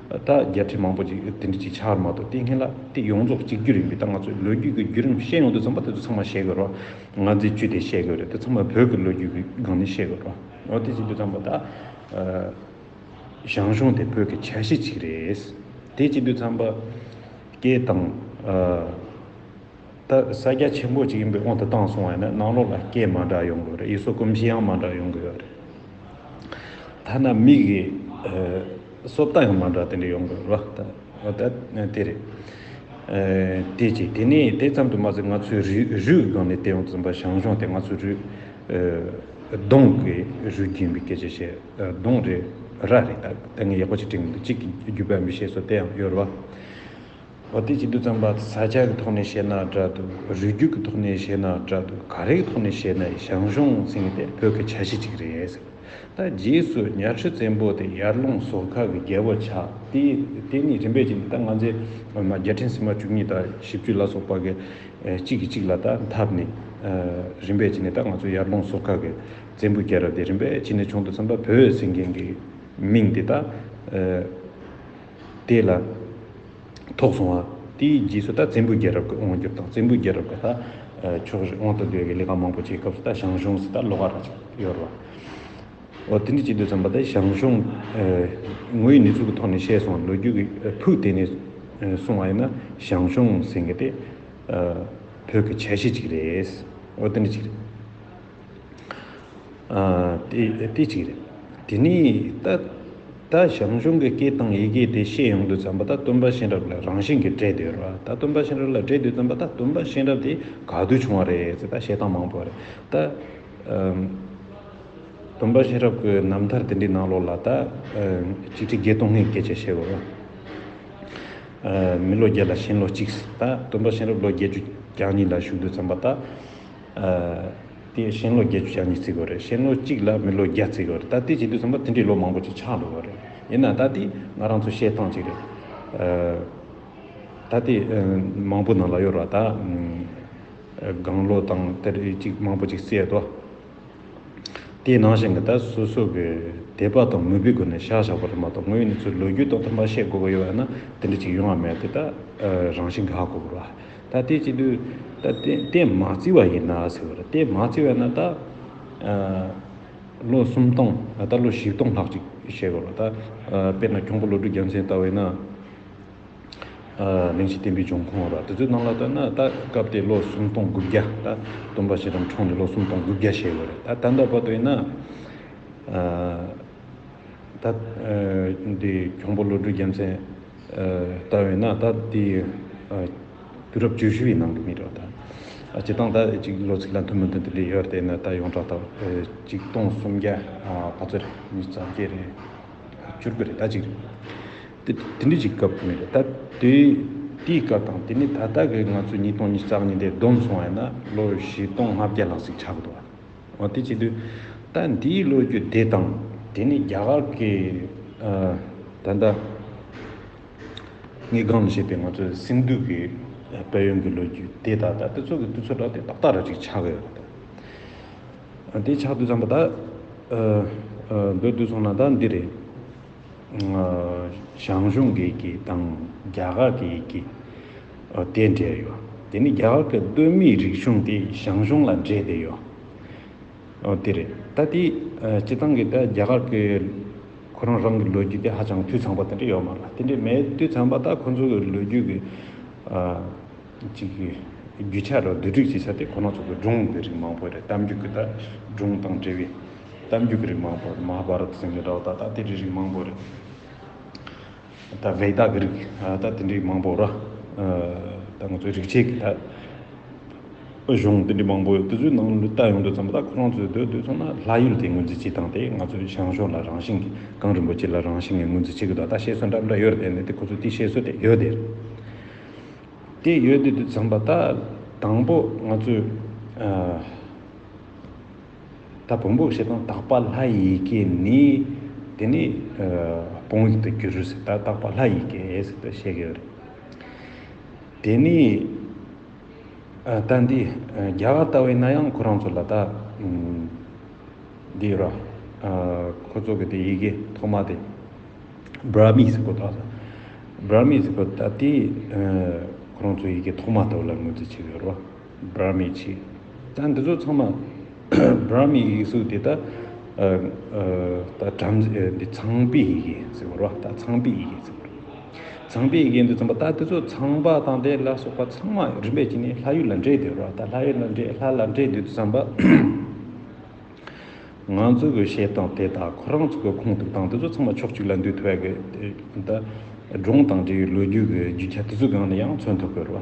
ད་བརྒྱད་ཁྲི་མང་པོ་ཅིག་དེ་འདྲི་གཅིག་ཆར་མ་གཏོགས་བལྟས་མཁན་ལ་དེ་ཡོངས་རྫོགས་གཅིག་གྱུར་ཡིན་པའི་ད་ང་ཚོའི་ལོ་རྒྱུས་ཀྱི་བརྒྱུད་རིམ་ཤེས་ཡོང་དུས་ཙམ་པོ་དེ་ཚོ་ཚང་མ་ཤེས་དགོས་རོགས། ང་ཚོའི་བཅུད་དེ་ཤེས་དགོས་རེད་དེ་ཚང་མ་བོད་ཀྱི་ལོ་རྒྱུས་ཀྱི་སྒང་ནས་ཤེས་དགོས་རོགས། འོ་དེ་བྱེད་དུས་ཙམ་པོ་ད། ཞང་ཞུང་དེ་བོད་ཀྱི་ཆ་ཤས་ཅིག་རེད། དེ་བྱེད་དུས་ཙམ་པོ། སྐད་དང། ད་ས་རྒྱ་ཆེན་པོ་ཅིག་ཡིན་པའི་དབང་དུ་བཏང་སོང་བ་ཡིན་ན་ནང་ལོགས་ལ་སྐད་མ་འདྲ་ཡོང་དགོས་རེད་ཡུལ་སྲོལ་གོམས་གཤིས་ཡང་མ་འདྲ་ཡོང་དགོས་རེད། ཐ་ན་མིག་གི་གསོབ་ལྟ་ཡང་མ་འདྲ་དེ་འདྲ་ཡོང་དགོས་རེད། ད་དེ་རེད། དེ་གཅིག་དེ་ནས་དེ་ཙམ་དུ་མ་ཟད་ང་ཚོའི་རུས་རུས་སྒང་ནས་བལྟས་ཡོང་ཙང་པ་ཞང་ཞུང་དེ་ང་ཚོའི་རུས། གདོང་གི་རུས་རྒྱུད་ཡིན་པའི་སྐད་ཆ་བཤད་གདོང་རེད་ར་རེད་ད་ངས་ཡག་པོ་ཅིག་དྲན་གི་འདུག་གཅིག་གི་རྒྱུད་པ་ཡིན་པའི་བཤད་སྲོལ་དེ་ཡང་ཡོད་རེད་བ། བ་དེ་གཅིག་ཏུ་བརྩམས་པ་ས་ཆ་གི་ཐོག་ནས་བཤད་ན་འདྲ་འདུག་རུས་རྒྱུད་ཀྱི་ཐོག་ནས་བཤད་ན་འདྲ་འདུག་ག་རེ་གི་ཐོག་ནས་བཤད་ན་ཞང་ཞུང་ཟེར་མཁན་དེ་བོད་ཀྱི་ཆ་ཤས་གཅིག་རེད་ཟེར་བ་དང་རྗེས་སུ་ཉའ་ཁྲི་བཙན་པོ་དེ་ཡར་ཀླུང་ཟོར་ཁ་གི་རྒྱལ་པོ་ཆགས་ཏེ་དེ་གཉིས་རིམ་པས་ཕྱིན་ཏེ་ད་ང་ཚེ་སྔོན་མ་བརྒྱ་ཕྲེང་སྲིང་མ་བཅུ་གཉིས་དང་བཞི་བཅུ་ལ་སོགས་པ་གི་གཅིག་གིས་གཅིག་ལ་ད་འཐབ་ནས་རིམ་པས་ཕྱིན་ནས་ད་ང་ཚོ་ཡར་ཀླུང་ཟོར་ཁ་གི་བཙན་པོའི་རྒྱལ་རབས་དེ་རིམ་པས་ཕྱིན་ནས་བྱུང་དུ་བརྩམས་པ་བོད་ཟེར་མཁན་གྱི་མིང་དེ་ད། དེ་ལ་ཐོག་སོང་བ། དེའི་རྗེས་སུ་ད་བཙན་པོའི་རྒྱལ་རབས་ཀྱི་དབང་བསྒྱུར་དང་བཙན་པོའི་རྒྱལ་རབས་ཀྱི་ད་ཕྱོགས་བཞི་དབང་དུ་སྡོད་པའི་ལས་ཀ་མང་པོ་བྱེད་སྐབས་སུ་ད་ཞང་ཞུང་སུ་ད་ལོག་ག་ར་ཅིག་ཡོད་རེད་བ། འོ་དེ་འདྲས་བྱེད་དུས་ཙམ་པ་ད་ཞང་ཞུང་ངོས་ནས་ཚུལ་གྱི་ཐོག་ནས་བཤད་སོང་ལོ་རྒྱུས་ཀྱི་ཕུགས་དེད་ནས་གསུང་བ་ཡིན་ན་ཞང་ཞུང་ཟེར་མཁན་དེ་བོད་ཀྱི་ཆ་ཤས་ཅིག་རེད། འོ་དེ་འདྲས་བྱེད། དེ་གཅིག་རེད། དེ་ནས་ད་ལྟ་ཞང་ཞུང་གི་སྐད་དང་ཡི་གེ་དེ་ཤེས་ཡོང་དུས་བརྩམས་པ་ད་སྟོན་པ་གཤེན་རབ་ལ་རང་བཞིན་གྱིས་འདྲེས་འདུག་ར་བ་ད་སྟོན་པ་གཤེན་རབ་ལ་འདྲེས་འདུག་བརྩམས་པ་ད་སྟོན་པ་གཤེན་རབ་དེ་ག་དུས་བྱུང་བ་རེད་ཟེར་ད་བཤད་སྟངས་མང་པོ་རེད། ད་སྟོན་པ་གཤེན་རབ་ཀྱི་རྣམ་ཐར་དེ་འདྲའི་ནང་ལོགས་ལ་ད་གཅིག་ཁྲི་བརྒྱད་སྟོང་ལྔའི་སྐད་ཆ་བཤད་དགོས་ལ། མི་ལོ་བརྒྱད་ལ་གཤེན་ལོ་གཅིག་ཟེར་ད་སྟོན་པ་གཤེན་རབ་ལོ་བརྒྱད་ཅུ་གྱ་གཉིས་ལ་བཞུགས་འདུག་བརྩམས་པ་ད། དེ་ཤིང་ལོ་བརྒྱད་ཅུ་ཆ་གཉིས་བརྩིགས་པ་རེད། ཤིང་ལོ་གཅིག་ལ་མི་ལོ་བརྒྱ་བརྩིགས་པ་རེད། ད་ལྟའི་བྱེད་དུས་ཟིན་པ་དེ་འདྲའི་ལོ་མང་པོ་ཞིག་ཆགས་འགྲོ་བ་རེད། ཡིན་ནའང་ད་དེ་ང་རང་ཚོ་བཤད་སྟངས་གཅིག་རེད། ད་དེ་མང་པོ་ནང་ལ་གཡོར་བ་དང། དགང་ལོ་དང་དེར་གཅིག་མང་པོ་ཅིག་བསྲེས་ཏོ། དེ་ནང་བཞིན་གྱི་ད་སོ་སོ་གི་དད་པ་དང་མོས་པའི་སྒོ་ནས་བཞག་བཞག་པ་རེད་མ་གཏོགས་དངོས་ཡོད་ནས་ཚོའི་ལོ་རྒྱུས་ཐོག་ཏུ་མ་བཤད་དགོས་པ་ཡོད་ན་དེ་འདྲ་ཅིག་ཡོང་བ་མེད་དེ་ད་རང་བཞིན་གྱི་ཧ་གོ་དགོས་པ་ད་ལྟའི་སྤྱི་འཐུས་ལྟད་མ་བརྩི་བ་ཡིན་ན་ཟེར་བ་རེད་ལྟད་མ་བརྩི་བ་ན་ད་ལོ་སུམ་སྟོང་ད་ལོ་བཞི་སྟོང་ལྷག་ཅིག་བྱས་པ་ལ་ད་དཔེར་ན་ཁྱུང་པོ་ལོ་དྲུག་རྒྱལ་མཚན་ལྟ་བས་ན་གླིང་བཞི་བསྟན་པའི་འབྱུང་ཁུངས་ར་དེ་ཚོའི་ནང་ལ་ལྟ་ན་ད་སྐབས་དེ་ལོ་སུམ་སྟོང་དགུ་བརྒྱ་ད་སྟོན་པ་ཞེ་དྲག་འཁྲུངས་ནས་ལོ་སུམ་སྟོང་དགུ་བརྒྱ་བྱས་པ་རེད་ད་ད་ལྟ་བར་དུ་ཡིན་ན་ད་དེ་གྱོང་པོ་བློ་གྲོས་རྒྱལ་མཚན་ལྟ་བས་ན་ད་དེ་དུས་རབས་བཅུ་བཞི་བའི་ནང་གི་མི་རེད། བྱེད་སྟངས་ད་ཅིག་ལོ་ཚིགས་ལ་མཐུན་མི་མཐུན་དེ་ལས་ཡོད་དེ་ན་ད་ཡོངས་གྲགས་ད་གཅིག་སྟོང་སུམ་བརྒྱ་བ་ཚོ་རེད་མི་བརྩམ་སྐྱེ་རེད། བཅུ་དགུ་རེད་ད་ཅིག་རེད། དེ་འདྲི་ཅིག་སྐབས་དེ་མི་རེད་ད་དེའི་སྐབས་དང་དེ་ནས་ད་ལྟ་གི་ང་ཚོ་ཉིས་སྟོང་ཉིས་རྩ་གཉིས་འདས་བསྡོམས་སོང་བས་ན་ལོ་བཞི་སྟོང་ལྔ་བརྒྱ་ལྷག་ཟིག་ཆགས་འདུག། འོ་དེ་བྱེད་དུས། ད་འདིའི་ལོ་རྒྱུས་འདི་དང། དེ་ནི་རྒྱ་གར་གྱི། ད་ལྟ། ངེད་སྒང་ལ་བཤད་པའི་ང་ཚོའི་སིན་དྷུ་གྱི། དཔལ་ཡོན་གྱི་ལོ་རྒྱུས་དེ་དག་ད་དེ་ཚོ་གི་དུས་ཚོད་དག་དེ་ཏག་ཏག་རེད་ཅིག་ཆགས་ཀྱི་ཡོད། དེ་ཆགས་དུས་ཙམ་པོ་ད། འདོད་དུས་སོང་ན་ད་འདི་རེད། ཞང་ཞུང་གི་ཡི་གེ་དང་རྒྱ་གར་གྱི་ཡི་གེ། དེ་འབྲེལ་ཡོད། དེ་ནི་རྒྱ་གར་གྱི་སྟོད་སྨད་རིག་གཞུང་དེ་ཞང་ཞུང་ལ་འབྲེལ་ཏེ་ཡོད། དེ་རེད། ད་དེའི་སྤྱི་བཏང་གི་ད་རྒྱ་གར་གྱི་ཁོ་རང་རང་གི་ལོ་རྒྱུས་དེ་ཧ་ཅང་འཐུས་ཚང་པོ་དེ་འདྲ་ཡོད་མ་རེད། དེ་འདྲ་མེད་འཐུས་ཚང་པ་ད་ཁོ་ཚོ་གི་ལོ་རྒྱུས་ཀྱི་ཅིག་གི་རྒྱུ་ཆ་རུ་བསྡུ་སྒྲིག་བྱེད་ས་དེ་ཁོ་རང་ཚོ་གི་སྒྲུང་གི་རིགས་མང་པོ་རེད་གཏམ་རྒྱུད་ཀྱི་ད་སྒྲུང་དང་འབྲེལ་བའི་གཏམ་རྒྱུད་ཀྱི་རིགས་མང་པོ་རེད་མ་ཧ་བྷ་ར་ཏ་ཟེར་མཁན་འདྲ་བོ་ད་ད་དེ་འདྲའི་རིགས་མང་པོ་རེད། ད་བེ་དག་གི་རིགས་ད་དེ་འདྲའི་མང་པོ་ར་ད་ང་ཚོའི་རིག་བྱེད་ཀྱི་ད་གཞུང་དེ་འདྲའི་མང་པོ་ཡོད་དེ་ཚོའི་ནང་ལུས་རྟགས་ཡོང་དུས་ཙམ་ད་ཁོ་རང་ཚོའི་སྡོད་སོང་ན་ལྷ་ཡུལ་དེ་ངོས་འཛིན་བྱེད་སྟངས་དེ་ང་ཚོའི་ཞང་ཞོང་ལ་རང་བཞིན་གངས་རིན་པོ་ཆེ་ལ་རང་བཞིན་ངེས་ངོས་འཛིན་བྱེད་དགོས་ད་བཤད་སྲོལ་འདྲ་འདྲ་ཡོད་རེད་ནི་དེ་ཁོ་ཚོའི་དེ་བཤད་སྲོལ་དེ་ཡོད་དེ་དེ་ཡོད་དེ་དུས་ཙམ་པ་ད་དང་པོ་ང་ཚོའི་ད་བོང་བུ་ཞེས་དང་དག་པ་ལྷ་ཡི་གེ་ནི། དེ་ནི་བོང་ཡིག་ཏུ་འགྱུར་ཟེར་ད་དག་པ་ལྷ་ཡི་གེ་ཟེར་ཏོ་བཤད་ཀྱི་ཡོད་རེད། དེ་ནི་ད་འདི་རྒྱ་གར་ལྟ་བུའི་ན་ཡང་ཁོ་རང་ཚོ་ལ་ད་འདི་ཡོད་ར། ཁོ་ཚོ་གི་དེ་ཡི་གེ་ཐོག་མ་དེ Brahmis ཟེར་གོ་ད Brahmis ཟེར་གོ་ད་དེ་ཁོ་རང་ཚོ་ཡི་གེ་ཐོག་མ་ལྟ་བུ་ལ་ངོས་འཛིན་བྱེད་ཀྱི་ཡོད་ར། Brahmi ཆིག་ད་འདི་ཚོ་ཚང་མ Brahmi ཡིག་གཟུགས་དེ་དག་བྲམ་ཟེ་འདི་ཚངས་པའི་ཡི་གེ་ཟེར་བ་རོ་ད་ཚངས་པའི་ཡི་གེ་ཟེར་བ་རོ་ཚངས་པའི་ཡི་གེ་འདི་ཚང་མ་ད་འདི་ཚོ་ཚངས་པ་དང་དེ་ལ་སོགས་པ་ཚང་མ་རིམ་པས་ཕྱིན་ནས་ལྷ་ཡུལ་ལ་འདྲེས་ཏེ་རོ་ད་ལྷ་ཡུལ་ལ་འདྲེས་ལྷ་ལ་འདྲེས་འདི་ཚང་པ་ང་ཚོ་གི་ཞེས་དང་དེ་དག་ཁོ་རང་ཚོ་གི་ཁུངས་ཐུབ་དང་འདི་ཚོ་ཚང་མ་ཕྱོགས་གཅིག་ལ་འདུས་ཐུབ་བ་གི་ད་སྒྲུང་དང་འབྲེལ་བའི་ལོ་རྒྱུས་ཀྱི་རྒྱུ་ཆ་དེ་ཚོའི་སྒང་ནས་ཡང་མཚོན་ཐུབ་གི་རོ།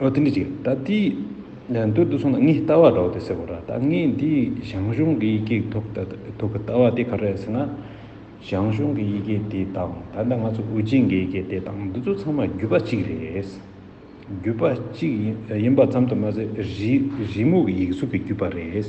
ཨོ་དེ་འདྲའི་ཅིག་ད་ཏི་འདོད་དུ་སོང་ན་ངའི་ལྟ་བ་འདྲ་བོ་དེ་ཟེར་བ་ར་ད་ངས་འདི་ཞང་ཞུང་གི་ཡི་གེ་ཐོག་ད་ཐོག་གི་ལྟ་བ་དེ་ག་རེ་རེད་ཟེར་ན། ཞང་ཞུང་གི་ཡི་གེ་དེ་དང་ད་ལྟ་ང་ཚོ་ཨུ་ཅིན་གྱི་ཡི་གེ་དེ་དང་འདི་ཚོ་ཚང་མ་རྒྱུད་པ་གཅིག་རེད། རྒྱུད་པ་གཅིག་ཡིན་པ་ཙམ་དུ་མ་ཟད་རི་རི་མོ་གི་ཡིག་གཟུགས་ཀྱི་རྒྱུད་པ་རེད།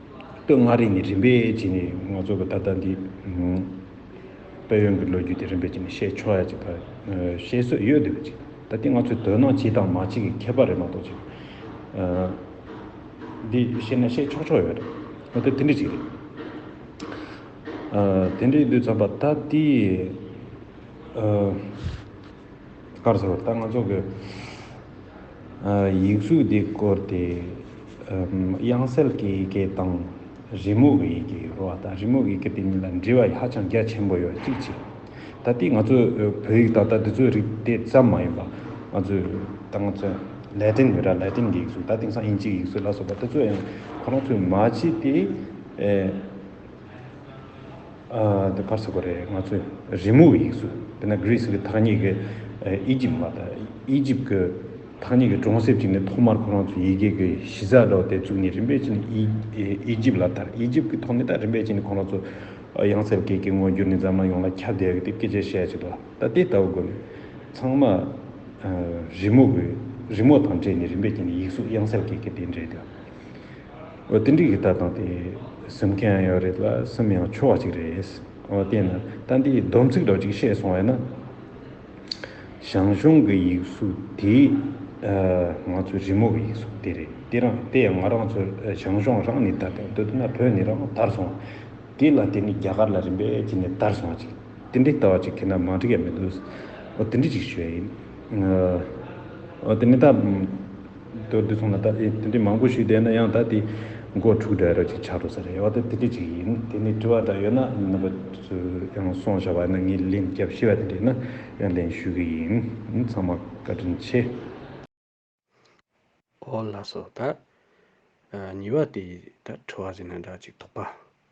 སྟོད་མངའ་རིས་ནི་རིམ་པས་བརྗེས་ནས་ང་ཚོ་གི་ད་ལྟ་འདི་དཔལ་ཡོན་གྱི་ལོ་རྒྱུས་དེ་རིམ་པས་བརྗེས་ནས་ཤེས་ཆོག་ཡ་ཅིག་ད་ཤེས་སྲོལ་ཡོད་དུས་བརྗེས་ད་ལྟ་ང་ཚོའི་དོན་སྣང་སྤྱི་དང་མ་སྤྱི་གི་ཁྱད་པར་རེད་མ་གཏོགས་ཅི་འདི་ཤེས་ན་ཤེས་ཆོག་ཆོག་ཡོད་རེད་ད་ལྟ་དེ་འདྲ་ཞིག་རེད། དེ་འདྲའི་དུས་མཚམས་པ་ད་ལྟའི། སྐར་ཚོགས་ལྟར་ང་ཚོ་གི་ཡིག་གཟུགས་འདི་བཀོལ་ཏེ། དབྱངས་གསལ་གྱི་ཡི་གེ་དང་རི་མོ་གི་ཡི་གེ་རོ་དང་རི་མོ་གི་ཡི་གེ་དེ་གཉིས་ལ་འབྲེལ་བ་ཧ་ཅང་རྒྱ་ཆེན་པོ་ཡོད་གཅིག་གཅིག་ད་ལྟའི་ང་ཚོ་བོད་ཡིག་ད་ལྟ་འདི་ཚོའི་རིགས་དེ་ཙམ་མ་ཡིན་པ་ང་ཚོའི་ད་ང་ཚོ་ལེ་ཏིན་ཡོད་ད་ལེ་ཏིན་གྱི་ཡིག་གཟུགས་ད་དེང་སང་ཨིན་ཇིའི་ཡིག་གཟུགས་ལ་སོགས་པ་དེ་ཚོ་ཡང་ཁོ་རང་ཚོས་མ་བྱས་ཏེ། འདི་ཕར་ཚུར་གོ་རེ་ང་ཚོས་རི་མོ་ཡིག་གཟུགས་དེ་ནས Greece གི་ཐག་ཉེ་གི Egypt མ་ད Egypt གི་ཐག་ཉེ་གི་གྲོང་གསེབ་ཅིག་ནས་ཐོག་མར་ཁོ་རང་ཚོས་ཡི་གེ་གི་གཞི་རྩ་སྒྲོག་སྟེ་བཙུགས་ནས་རིམ་པས་ཕྱིན Egypt ལ་དར Egypt གི་ཐོག་ནས་ད་རིམ་པས་ཕྱིན་ཁོ་རང་ཚོ་དབྱངས་གསལ་སྐད་ཀྱི་ངོ་འགྱུར་ནི་འཛམ་གླིང་ཡོངས་ལ་ཁྱབ་བརྡལ་གྱི་སྐད་ཆའི་ཞལ་གཅིག་ལ་ད་དེ་ལྟ་བུ་དགོས་མེད་ཚང་མ་རི་མོ་གི་རི་མོ་དང་འདྲེས་ནས་རིམ་པས་ཕྱིན་ཡིག་གཟུགས་དབྱངས་གསལ་སྐད་ཀྱི་དེ་འདྲེས་དེ། འོ་དེ་འགྲིག་གི་ད་དང་དེ་གཟིམ་མཁན་ཡང་ཡོད་རེད་ལ་གཟིམ་ཡང་ཆོག་བ་ཅིག་རེད། འོ་དེས་ན་ད་འདིའི་སྡོམ་ཚིག་འདྲ་བ་ཅིག་བཤད་སོང་བས་ན། ཞང་ཞུང་གི་ཡིག་གཟུགས་དེ་ང་ཚོའི་རི་མོ་གི་ཡིག་གཟུགས་དེ་རེད། དེ་རང་དེ་ཡང་ང་རང་ཚོ་ཞང་ཞུང་རང་ནས་དར་ཏེ་འདོད་ན་བོད་ནས་རང་དར་སོང་བ། དེ་ལ་དེ་ནི་རྒྱ་གར་ལ་རིམ་པས་ཕྱིན་ནས་དར་སོང་བ་ཅིག་དེ་འདྲའི་ལྟ་བ་ཅིག་ཁྱེད་རྣམས་མ་འགྲིག་ཡ་མི་འདུག། འོ་དེ་འདྲི་ཅིག་ཞུ་ཡ་ཡིན། འོ་དེ་ནི་ད། དོན་དེ་མཚུངས་ལ་ད་ལྟ་དེ་འདྲའི་མང་པོ་ཞིག་བསྡད་ན་ཡང་ད་ལྟའི་མགོ་འཁྲུག་འདྲ་རེ་ཞིག་ཆགས་འགྲོ་ས་རེད་ཡོད་ད་དེ་འདྲ་ཅིག་ཡིན་དེ་ནས་དྲི་བ་འདྲ་ཡོད་ན་ནང་པ་ཚོས་ཡང་སོང་བཞག་པ་ཡིན་ན་ངས་ལན་རྒྱབ་ཤེས་པ་དེ་འདྲ་ཡིན་ན་ཡང་ལན་ཞུ་གི་ཡིན་ཡིན་ཚང་མ་བཀའ་དྲིན་ཆེ། ཨོ་ལགས་སོ་ད་ཉི་བ་དེ་ད་ཁྲི་བ་ཟེར་ན་འདྲ་ཅིག་དོགས་པ།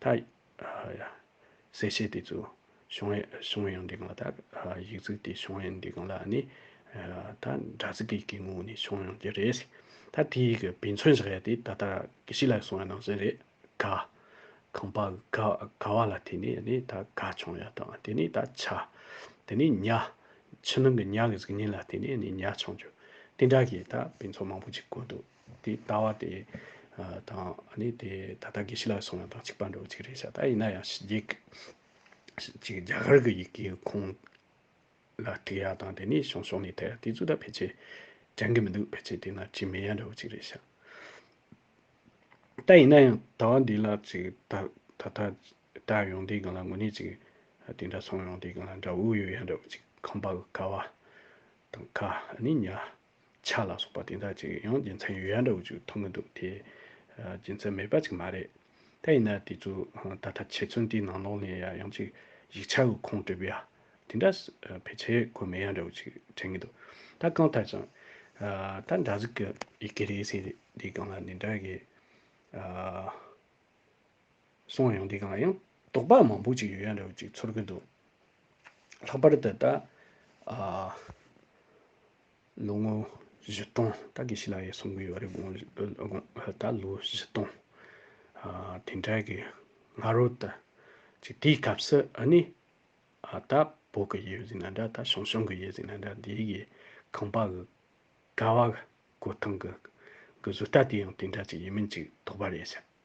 ད་གསལ་བྱེད་དེ་ཚོ་བྱུང་བས་བྱུང་བའི་ཡང་འདི་གང་ལ་དག་ཡིག་གཟུགས་དེ་བྱུང་བའི་འདི་གང་ལ་ནི་ད་སྒྲ་གཟུགས་ཀྱི་གི་ངོ་བོ་ནི་བྱུང་ཡང་འདི་རེད། ད་དེའི་གི་དཔེ་མཚོན་བཞག་ཡ་དེ་ད་ལྟ་གི་ཕྱི་ལ་སོང་བའི་ནང་བཞིན་རེད་ག། གང་པ་ག་ག་བ་ལ་དེ་ནི་ནི་ད་ག་བྱུང་ཡ་དང་དེ་ནི་ད་ཆ། དེ་ནི་ཉ། ཕྱི་ནང་གི་ཉ་གི་གཟུགས་བརྙན་ལ་དེ་ནི་ནི་ཉ་བྱུང་རྒྱུ། དེ་འདྲ་གི་ད་དཔེ་མཚོན་མང་པོ་ཅིག་བཀོད་འདུག། དེ་ལྟ་བ་དེ་དང་ནི་དེ་ད་ལྟ་དགེ་བཤེས་ལགས་སོང་ཡང་དང་གཅིག་པར་འགྲོ་གཅིག་རེད་བྱ་ད་ཡིན་ན་ཡང་ཞི་རྒྱས་རྒྱ་གར་གྱི་ཡི་གེའི་ཁུངས་ལ་དྲི་ཡ་དང་དེ་ནས་ཤོང་ཤོང་ནས་དེ་དེ་ཚོ་ད་ཕལ་ཆེར་འགྲན་གྱི་མི་འདུག་ཕལ་ཆེར་དེ་ན་ཅིག་མེད་ཡང་འགྲོ་གཅིག་རེད་བྱ། ད་ཡིན་ན་ཡང་ད་བ་འདི་ལ་ཅིག་ད་ད་ལྟ་བསྒྲགས་ཡོང་དེ་གང་ལ་ངོ་ནས་ཅིག་དེ་འདྲ་སོང་ཡོང་དེ་གང་ལ་འདྲ་འུ་ཡོད་ཡང་འགྲོ་གཅིག་ཁམས་པ་ཀ་བ་དང་ཁ་ནི་ཉ། ཆ་ལ་སོགས་པ་དེ་དག་ཅིག་ཡང་རྒྱུ་མཚན་ཡོད་ཡ་འདྲ་བོ་ཅིག་མཐོང་གི་འདུག་དེ། རྒྱུ་མཚན་མེད་པ་ཅིག་མ་རེད། དེ་ཡིན་ན་དེ་ཚོ་ད་ལྟ་ཁྱེད་ཚོ་འདིའི་ནང་ལོག་ནས་ཡ་ཡང་ཅིག་ཡིག་ཆ་དབུལ་ཁོངས་སྤྲོད་པ་ཡ། དེ་འདྲ་ཕལ་ཆེར་དགོས་མེད་ཡ་འདྲ་བོ་ཅིག་དྲན་གི་འདུག་ད་གང་ལྟར་ཀྱང། ད་འདྲ་ཟིག་གི་ཡི་གེ་རེད་ཟེར་དེ་གང་ལ་འདི་འདྲ་གི། སོང་ཡང་འདི་གང་ཡང། དོགས་པ་མང་པོ་ཅིག་ཡོད་ཡ་རེད་ཅིག་ཚོར་གི་འདུག། ལྷག་པར་དུ་ད། ལོ་ངོ་བཞི་སྟོང་ད་གི་ཤི་ལ་ཡའི་སོང་གི་ཡོད་རེད་དགོངས། ད་ལོ་བཞི་སྟོང། དེ་འདྲ་གི་སྔ་རོལ་དུ། ཅིག་དེའི་སྐབས་སུ་ཨ་ནི། ད་བོད་གི་ཡུལ་ཟིག་ན་འདྲ་ད་ཞང་ཞུང་གི་ཡུལ་ཟིག་ན་འདྲ་འདི་གི་ཁང་པ་གི། ཀ་བ་གི། སྒོ་ཐང་གི། གི་བཟོ་ལྟ་དེ་ཡང་དེ་འདྲ་ཅིག་ཡིན་མིན་ཅིག་དོགས་པ་རེད་བྱས།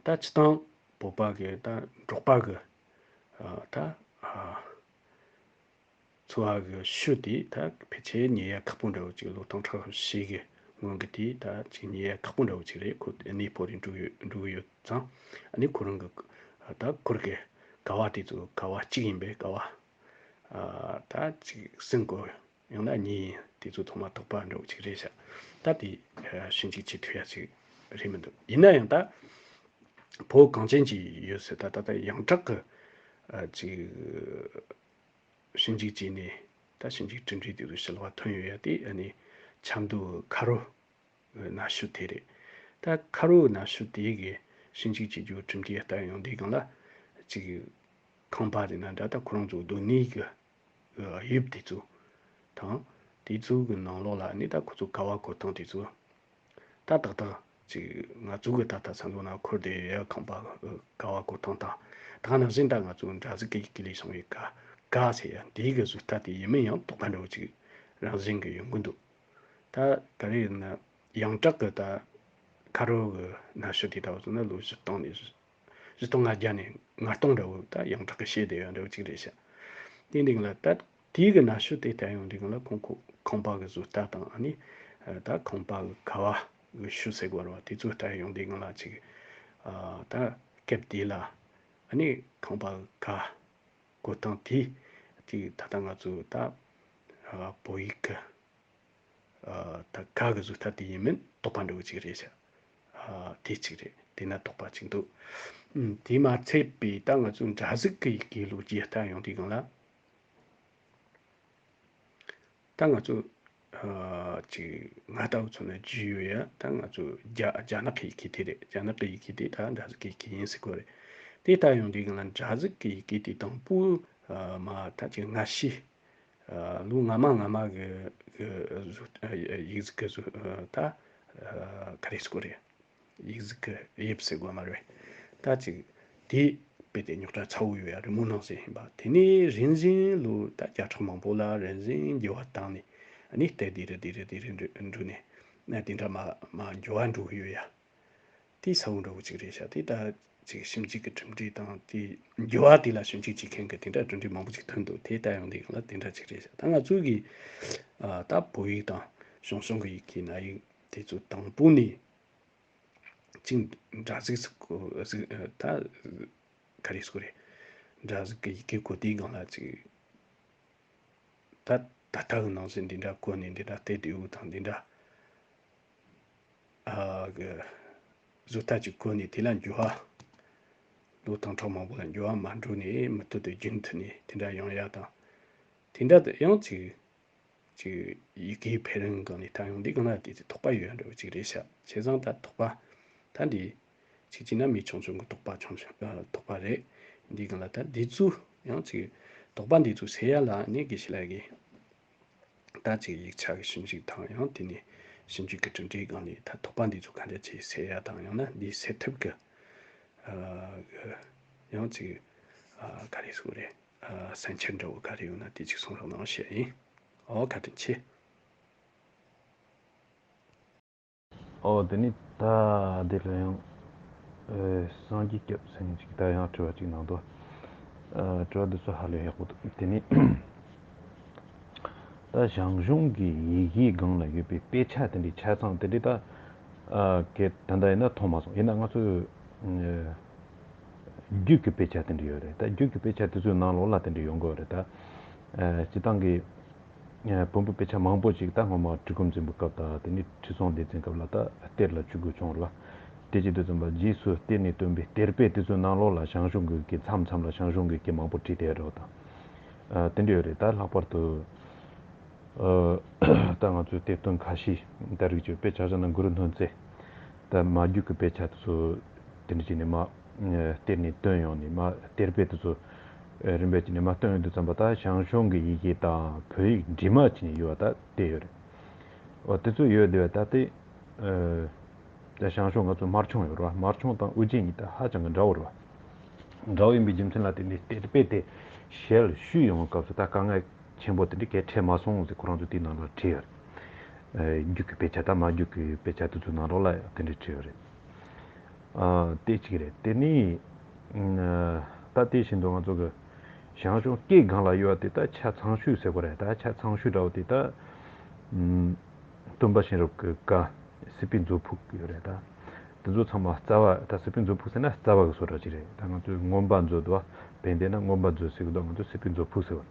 ད་ཅི་དང་པོ་པ་གི་ད་འབྲོག་པ་གི་ད་འཚོ་བ་གི་ཤུལ་དེ་ད་ཕལ་ཆེ་ཉེ་ཡ་ཁག་པོ་འདྲ་བོ་ཅིག་ལོ་ཐང་ཁྲག་ཤུལ་ཞིག་གི་སྔོན་གི་དེ་ད་ཅིག་ཉེ་ཡ་ཁག་པོ་འདྲ་བོ་ཅིག་རེད་ཁོ་གནས་སྤོ་རིགས་འགྲོ་ཡོད་འགྲོ་གི་ཡོད་ཙང་ནི་ཁོ་རང་གི་ད་ཁོར་གི་དགའ་བ་དེ་ཚོ་དགའ་བ་གཅིག་ཡིན་པས་དགའ་བ་ད་ཅིག་སེམས་དགོས། ཡང་ན་གཉིས་ཡིན་དེ་ཚོ་ཐོག་མ་དོགས་པ་འདྲོག་ཅིག་རེད་བྱ། ད་དེ་ཤི་འཇིག་བྱེད་ཐུ་ཡ་ཅིག་རེད་མི་འདུག་ཡིན་ན་ཡང་ད། བོད་གངས་ཅན་གྱི་ཡོད་ཚད་ད་ད་ད་ཡང་དྲག་གི། ཅིག། ཤི་འཇིག་བྱས་ནས་ད་ཤི་འཇིག་གྲི་འདྲིས་དེ་ཚོ་ཤི་ལ་བ་ཐོན་ཡོད་ཡ་དེ་ཨ་ནི། ཆབ་མདོ་ཁ་རུ། ན་ཤུ་དེ་རེད། ད་ཁ་རུ་ན་ཤུ་དེ་གི་ཤི་འཇིག་བྱེད་རྒྱུ་གྲིམ་འདྲིས་ལྟར་ཡང་དེ་གང་ལ། ཅིག། ཁང་པ་རེད་ན་འདྲ་ད་ཁོ་རང་ཚོ་སྡོད་གནས་གི་དབྱིབས་དེ་ཚོ་དང། དེ་ཚོ་གི་ནང་ལོགས་ལ་ནི་ད་ཁོ་ཚོ་ག་བ་གོ་སྟངས་དེ་ཚོ། ད་ཏག་ཏག་ཅིག་ང་ཚོ་གི་ད་ལྟ་ཚང་དུ་ན་འཁོར་དེ་ཡ་ཁང་པ་ག་བ་གོ་སྟངས་དང། ད་ནང་བཞིན་ད་ང་ཚོ་འདྲ་ཟི་ཀི་ཀི་ཀི་ལས་བྱུང་བའི་ག་ག་ཟེར་ཡ་དེའི་གི་ཟུར་ལྟ་དེ་ཡིན་མིན་ཡང་དོགས་པ་འདྲ་བོ་ཅིག་རང་བཞིན་གི་ཡོང་གི་འདུག། ད་ག་རེ་ཡིན་ན་ཡང་སྐྲག་གི་ད་ཁ་རོག་གི་ན་ཤོ་དེ་ད་བ་ཚོ་ན་ལོ་བཞི་སྟོང་ནས་བཞི་སྟོང་ང་བརྒྱ་ནས་ང་སྟོང་རེའུ་ད་ཡང་དྲག་གི་ཤེས་བདེ་ཡོད་རེའུ་གཅིག་རེ་བྱ། དེའི་རིང་ལ་ད་དུས་ཀྱི་ན་ཤོ་དེ་ད་ཡང་རིང་ལ་ཁོང་ཁོ་ཁང་པ་གི་བཟོ་ལྟ་དང་ཨ་ནི་ད་ཁང་པ་གི་ཁ་བ་གི་ཤུ་སེ་གོར་བ་དེ་ཚོ་ད་ཡང་རིང་ལ་ཅིག་ད་སྐབས་དེ་ལ་ཨ་ནི་ཁང་པ་གི་ཁ་གོ་སྟངས་དེ་ཅིག་ད་ད་ང་ཚོ་ད་བོད་ཡིག་གི། ད་ག་གི་གཟུགས་ཐ་དད་ཡིན་མིན་དོགས་པ་འདྲ་བོ་ཅིག་རེད། དེ་གཅིག་རེད་དེས་ན་དོགས་པ་གཅིག་འདུག། དེས་མ་ཚད་པའི་ད་ང་ཚོའི་འདྲ་གཟུགས་ཀྱི་དགེ་ལུགས་རྒྱས་གཏམ་ཡང་དེ་གང་ལ། ད་ང་ཚོ་ཅིག་ང་ལྟ་བུ་ཚོ་ནི་རྒྱུས་ཡོད་ཡ་ད་ང་ཚོ་རྒྱ་ནག་གི་ཡི་གེ་དེ་རེད་རྒྱ་ནག་གི་ཡི་གེ་དེ་ད་འདྲ་གཟུགས་ཀྱི་ཡི་གེ་ཡིན་སྲིད་དགོས་རེད། དེ་ལྟ་ཡང་དེ་གང་ལ་འདྲ་གཟུགས་ཀྱི་ཡི་གེ་དེ་དང་པོ་མ་ད་ཅིག་སྔ་ཕྱི་ལུས་ངར་མ་ངར་མ་གི་ཡིག་གཟུགས་ཀྱི་གཟུགས་ད་ག་རེ་སྐོར་རེད། ཡིག་གཟུགས་ཀྱི་དབྱིབས་ཟེར་དགོས་མ་རེད། ད་ཅིག་དེ་དཔེ་དེ་རྙོག་དྲ་ཚ་བོ་ཡོད་ཡ་རི་མོ་ནང་ཟེར་བཞིན་པ་དེ་ནི་རིན་བཞིན་ལུས་ད་བརྒྱ་ཕྲག་མང་པོ་ལ་རིན་བཞིན་རྒྱུ་བ་བཏང་ནས་ནི་ལྟས་དེ་རི་དེ་རི་དེ་རི་འབྲུག་ནས་ནས་དེ་འདྲ་མ་མ་འགྱུར་བ་འགྲོ་གི་ཡོད་ཡ། དེའི་ས་བོན་འགྲོ་གི་ཅིག་རེད་ཤག་དེ་ལྟར་ཅིག་ཞིབ་འཇུག་གི་གྲུབ་འབྲས་དང་དེའི་རྒྱུ་བ་དེ་ལ་ཞིབ་འཇུག་བྱེད་མཁན་གྱི་དེ་འདྲ་གྲུབ་འབྲས་མང་པོ་ཅིག་ཐོན་འདུག་དེ་ལྟ་ཡང་དེ་གང་ལ་དེ་འདྲ་ཅིག་རེད་ཤག་ད་ང་ཚོའི་གི་ད་བོད་ཡིག་དང་གཞུང་སྲོང་གི་ཡིག་གི་ན་ཡིག་དེ་ཚོ་དང་པོ་ནས་ཅིག་འདྲ་གཟིགས་སུ་ད་ག་རེ་སུ་རེད་འདྲ་གཟིགས་གི་ཡི་གེ་གོ་དེའི་གང་ལ་ཅིག་ད་ད་ལྟ་གི་ནང་བཞིན་དེ་འདྲ་གོ་ནས་དེ་འདྲ་བལྟས་དེའུ་དང་དེ་འདྲ། གཟུགས་ཐག་གཅིག་བཀོལ་ནས་དེ་ལ་འགྱུར་བ། ལུས་དང་ཁྲག་མང་པོ་ལ་འགྱུར་བ་མ་འགྲོ་ནས་མུ་མཐུད་དུ་རྒྱུན་མཐུད་ནས་དེ་འདྲ་ཡང་ཡག་དང། དེ་འདྲ་དུ་ཡང་གཅིག། གཅིག་ཡི་གེའི་འཕེལ་རིམ་གང་ནས་ད་ཡོང་འདི་གང་ལ་དེ་ཚོའི་དོགས་པ་ཡོད་འདྲ་བོ་གཅིག་རེད་ཤག་བྱས་ཙང་ད་དོགས་པ། ད་འདི། ཆེ་གཅིག་ན་མི་ཆུང་ཆུང་གི་དོགས་པ་ཆུང་ཆུང་དོགས་པ་རེད། འདི་གང་ལ་ད་འདི་ཚོའི་ཡང་གཅིག། དོགས་པ་འདི་ཚོ་སེལ་ཡ་ལ་ནི་དགེ་བཤེས་ལ་དགེ། ཟླ་གཅིག་ཡིག་ཆ་གི་ཞིབ་འཇུག་དང་ཡང་དེ་ནས་ཞིབ་འཇུག་གི་གྲུབ་འབྲས་སྒང་ནས་ད་ཐོག་པ་འདི་ཚོ་ག་འདྲ་བྱས་ཟེར་ཡ་དང་ཡང་ན་འདིའི་སེལ་ཐབས་གི་ཡང་ཅིག་ག་རེ་སུ་རེད་བསམ་འཆར་འདྲ་བོ་ག་རེ་ཡོད་ན་དེ་ཅིག་གསུང་རོགས་གནང་བྱས་ཡིན་འོ་བཀའ་དྲིན་ཆེ། ཨོ་དེ་ནས་ད་དེ་ལོ་ཡང་སངས་རྒྱས་སྐྱབས་སེང་གཅིག་ད་ཡང་དྲི་བ་གཅིག་གནང་དོ། དྲི་བ་འདི་ཚོ་ཧ་ལས་ཡག་པོ་འདུག་དེ་ནས་ད་ཞང་གཞུང་གི་ཡི་གེའི་སྒང་ལ་ཡོད་པའི་དཔེ་ཆ་དེ་འདྲའི་ཆ་ཚང་དེ་འདྲའི་ད་གལ་ད་ལྟ་ཡིན་ན་མཐོང་མ་སོང་ཡིན་ན་ང་ཚོས་རྒྱུད་ཀྱི་དཔེ་ཆ་དེ་འདྲའི་ཡོད་རེད་ད་རྒྱུད་ཀྱི་དཔེ་ཆ་དེ་ཚོའི་ནང་ལོགས་ལ་དེ་འདྲའི་ཡོང་གི་ཡོད་རེད་ད་སྤྱི་བཏང་གི། བོན་པོ་དཔེ་ཆ་མང་པོ་ཞིག་ད་སྔོན་མ་གྲི་གུམ་འཛིན་པའི་སྐབས་དང་དེ་ནས་ཁྲི་སྲོང་ལྡེ་བཙན་སྐབས་ལ་ད་གཏེར་ལ་བཅུག་དགོས་བྱུང་ལ། དེ་རྗེས་དུས་གསུམ་པ་རྗེས་སུ་གཏེར་ནས་བཏོན་པའི་གཏེར་དཔེ་དེ་ཚོའི་ནང་ལོགས་ལ་ཞང་ཞུང་གི་གི་མཚམས་མཚམས་ལ་ཞང་ཞུང་གི་གི་མང་པོ་བྲིས་བསྡད་རོགས་དང། དེ་འདྲ་ཡོད་རེད་ད་ལྷག་པར་དུ། ད་ང་ཚོས་གཏེར་སྟོན་ཁ་ཤས་ད་རིག་བྱེད་དཔེ་ཆ་ཆ་ན་གུ་རུ་སྣོད་མཛེས། དེ་མ་རྒྱུད་ཀྱི་དཔེ་ཆ་དེ་ཚོ་དེ་འདྲ་ཅིག་ནས་མ་སྟེར་ནས་བཏོན་ཡོང་ནས་མ་སྟེར་དཔེ་དེ་ཚོ་རིམ་པས་ཅིག་ནས་མ་བཏོན་འདུག་བརྩམས་པ་དག་ཞང་ཞུང་གི་ཡི་གེ་དང་བོད་ཡིག་འདྲིས་མ་ཅིག་ནས་ཡོད་བ་དག་བལྟས་ཡོད་རེད། འོ་དེ་ཚོ་ཡོད་བསྡད་བས་ད་ལྟའི་ཞང་ཞུང་ང་ཚོ་མར་ཆུང་ཡོད་རེད་བ་མར་ཆུང་དང་དབུ་རྗེ་གཉིས་དག་ཧ་ཅང་གི་འདྲ་བོ་རེད་བ། འདྲ་བོ་ཡིན་པའི་རྒྱུ་མཚན་ལ་དེ་འདྲའི་དཔེ་དེ་ཞལ་བཤུས་ཡོང་བའི་སྐབས་སུ་ད་དཀའ་ངལ། ཆེན་པོ་དེ་འདྲ་གས་འཕྲད་མ་སོང་ཟེར་ཁོ་རང་ཚོ་དེའི་ནང་ལ་བྲིས་ཡོད་རེད། རྒྱུགས་ཀྱི་དཔེ་ཆ་དང་མ་རྒྱུགས་ཀྱི་དཔེ་ཆ་དེ་ཚོ་ནང་རོགས་ལ་དེ་འདྲ་བྲིས་ཡོད་རེད། དེ་གཅིག་རེད་དེ་ནས་ད་ལྟའི་བཞིན་དུ་ང་ཚོ་གི་ཞང་ཞུང་སྐད་སྒང་ལ་ཡོད་པ་དེ་དག་ཆ་ཚང་ཤུས་ཟེར་གོ་རེད་ད་ཆ་ཚང་ཤུས་འདྲ་བོ་དེ་དག་སྟོན་པ་གཤེན་རབ་ཀྱི་བཀའ་སྲིད་པའི་མཛོད་ཕུག་ཡོད་རེད་ད་དེ་ཚོ་ཚང་མ་རྩ་བ་ད་སྲིད་པའི་མཛོད་ཕུག་ཟེར་ན་རྩ་བ་གི་སོ་འདྲ་ཅིག་རེད་ད་ང་ཚོས་རྔོན་པ་མཛོད་དུ་བ་བན་དེ་ན་རྔོན་པ་མཛོད་ཟེར་གི་འདུག་ང་ཚོས་སྲིད་པའི་མཛོད་ཕུག་ཟེར་བ།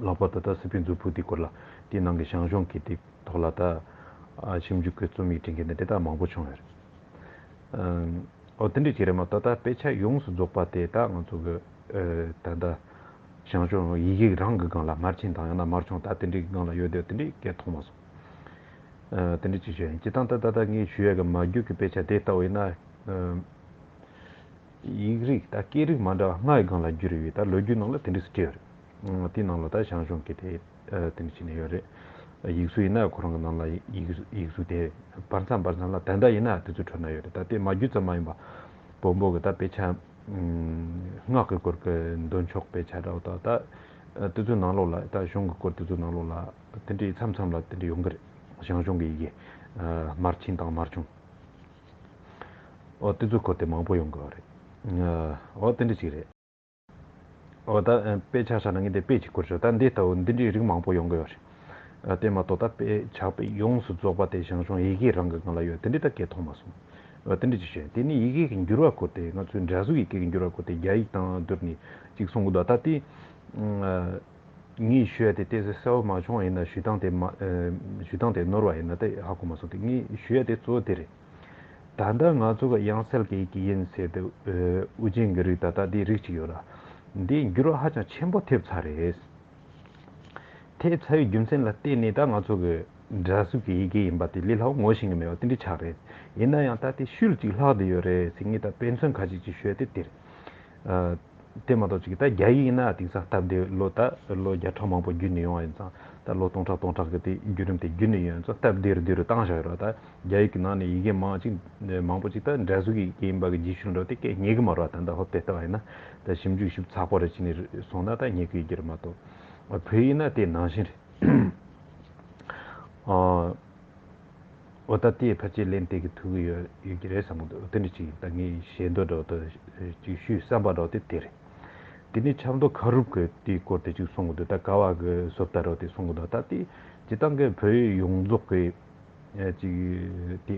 ལགས་པ་ད་ལྟ་སི་པི་མཛོད་ཕུག་དེ་སྐོར་ལ་དེའི་ནང་གི་ཞང་ཞུང་གི་དེ་ཐོག་ལ་ད་ཞིབ་འཇུག་གི་རྩོམ་ཡིག་བྲི་མཁན་དེ་དེ་དག་མང་པོ་བྱུང་ཡོད་རེད་ཨོ་དེ་འདྲ་གྱི་རེད་མ་གཏོགས་ད་དཔེ་ཆ་ཡོངས་སུ་རྫོགས་པ་དེ་དག་ང་ཚོ་གི་ད་ལྟ་ཞང་ཞུང་ཡིག་ཡིག་རང་གི་སྒང་ལ་མར་ཕྱིན་དང་ཡང་ན་མར་བྱུང་ད་དེ་འདྲའི་གི་སྒང་ལ་ཡོད་དེ་དེ་འདྲའི་སྐད་མཐོང་མ་སོང་དེ་འདྲའི་ཅིག་ཤོས་ཡིན་སྤྱི་སྟངས་ད་ད་ལྟ་ངས་ཞུ་ཡས་གི་མ་རྒྱུད་གི་དཔེ་ཆ་དེ་ལྟ་བུ་ཡིན་ན་ཡིག་རིགས་དང་སྐད་རིགས་མ་འདྲ་བ་ལྔ་ཡི་སྒང་ལ་བསྒྱུར་ཡོད་དེ་ལོ་རྒྱུས་ནང་ལ་དེ་འདྲས་སུ་བཀྲལ་ཡོད་རེད། དེའི་ནང་ལ་ད་ཞང་ཞུང་གིས་དེ་དེ་འདྲས་བྱས་ནས་ཡོད་རེད། ཡིག་གཟུགས་ཡིན་ན་ཁོ་རང་གི་ནང་ལ་ཡིག་གཟུགས་དེ་བར་མཚམས་བར་མཚམས་ལ་དེ་འདྲ་ཡིན་ན་དེ་ཚོའི་ཁྲོད་ན་ཡོད་རེད་ད་དེ་མ་བསྒྱུར་ཙམ་མ་ཡིན་པ། བོན་པོ་གི་ད་དཔེ་ཆ། སྔགས་གི་སྐོར་གི་འདོན་ཆོག་དཔེ་ཆ་འདྲ་བོ་དག་ད་དེ་ཚོའི་ནང་ལོགས་ལ་ད་གཞུང་གི་སྐོར་དེ་ཚོའི་ནང་ལོགས་ལ་དེ་འདྲས་མཚམས་མཚམས་ལ་དེ་འདྲས་ཡོང་གི་རེད། ཞང་ཞུང་གི་ཡི་གེ། མར་ཕྱིན་དང་མར་བྱུང། འོ་དེ་ཚོ་གོ་དེ་མང་པོ་ཡོང་དགོས་རེད་འོ་དེ་འདྲ་ཞིག་རེད་འོ་ད་དཔེ་ཆགས་ཆགས་ན་ངས་དེ་དཔེ་ཅིག་བསྐུར་ཆོག་ད་འདི་ལྟ་བུ་འདི་འདྲའི་རིགས་མང་པོ་ཡོང་དགོས་རེད་དེ་མ་གཏོགས་ད་དཔེ་ཆགས་དཔེ་ཡོངས་སུ་རྫོགས་པ་དེ་ཞང་ཞུང་ཡི་གེའི་རང་གི་ངང་ལ་ཡོད་དེ་འདྲའི་ད་སྐད་མཐོང་མ་སོང་འོ་དེ་འདྲ་ཅིག་བྱོས་དེ་ནི་ཡི་གེ་གི་འགྱུར་བ་བསྐུར་དེ་ང་ཚོའི་འདྲ་གཟུགས་ཡི་གེ་གི་འགྱུར་བ་བསྐུར་དེ་རྒྱ་ཡིག་དང་བསྡུར་ནས་ཅིག་གསུང་གི་འདུག་ད་དེ་ངས་ཞུས་ཡ་དེ་བལྟས་ཚེ་གསལ་བོ་མ་བྱུང་བ་ཡིན་ན་ཞུས་སྟངས་དེ་ཞུས་སྟངས་དེ་ནོར་བ་ཡིན་ན་ད་ཧ་གོ་མ་སོང་སྟེ་ངས་ཞུས་ཡ་དེ་གཙོ་བོ་དེ་རེད། ད་ལྟ་ང་ཚོ་ག་དབྱངས་གསལ་གྱི་གི་ཡིན་ཟེར་དུས་དབུ་ཅན་གྱི་རིགས་ད་ལྟ་དེ་རིགས་གཅིག་ཡོད་ལ། དེ་འགྱུར་བ་ཧ་ཅང་ཆེན་པོ་ཐེབས་ཚར་རེད། ཐེབས་ཚར་བའི་རྒྱུ་མཚན་ལ་བལྟས་ནས་ད་ང་ཚོ་གི་སྒྲ་གཟུགས་ཀྱི་ཡི་གེ་ཡིན་པ་དེ་ལས་ལྷག་ངོ་ཤེས་ཀྱི་མེད་པ་དེ་འདྲའི་ཆ་རེད། ཡིན་ན་ཡང་ད་དེ་ཤུལ་ཅིག་ལྷག་དེ་ཡོད་རེད་ཟེར་ངས་ད་དཔེ་མཚོན་ག་ཅིག་ཅིག་ཞུས་ཡ་དེ་དེ་རེད། དེ་མ་གཏོགས་ཅིག་ད་རྒྱ་ཡིག་ཡིན་ན་དེང་སང་སྟབས་བདེ་ལོ་ད་ལོ་བརྒྱ་ཕྲག་མང་པོ་བརྒྱུད་ནས་ཡོང་བ་ཡིན་ཙང་ད་ལོ་སྟོང་ཕྲག་སྟོང་ཕྲག་གི་དེ་བརྒྱུད་རིམ་དེ་བརྒྱུད་ནས་ཡོང་ཙང་སྟབས་བདེ་རུ་དེ་རུ་བཏང་བཞག་ཡོད་རོགས་ད་རྒྱ་ཡིག་གི་ནང་ནས་ཡི་གེ་མང་ཅིག་མང་པོ་ཅིག་ད་འདྲ་གཟུགས་ཡི་གེ་ཡིན་པ་གི་རྗེས་ཤུལ་འགྲོ་དེ་སྐད་ཉན་གི་མ་རོགས་ད་ད་ཧོབ་སྟེ་ལྟ་བ་ཡིན་ན་ད་ཞིབ་འཇུག་ཞིབ་ཚགས་པོ་རེ་བྱས་ནས་སོང་ན་ད་ཉན་གི་ཡོད་ཀྱི་རེད་མ་གཏོགས་བོད་ཡིག་ན་དེ་ནང་བཞིན་རེད། འོ་ད་དེའི་ཕར་ཆད་གླེང་སྟེགས་ཀྱི་ཐུགས་ཀྱི་ཡོད་ཡོད་ཀྱི་རེད་བསམ་གོ་འདོད་འདི་ཅིག་ད་ངས་ཞལ་འདོད་སྒྲོག་དོན་ཅིག་ཞུས་བསམ་པ་སྒྲོག་དེ་དེ་རེད། དེ་ནས་ཆབ་མདོ་ཁ་རུབ་ཀྱི་དེའི་སྐོར་དེ་ཅིག་གསུང་གོ་འདོད་ད་ཀ་བ་གི་བཟོ་ལྟ་རོགས་དེ་གསུང་གོ་འདོད་ད་དེ་སྤྱི་བཏང་གི་བོད་ཡིག་ཡོངས་རྫོགས་ཀྱི་ཅིག་དེ་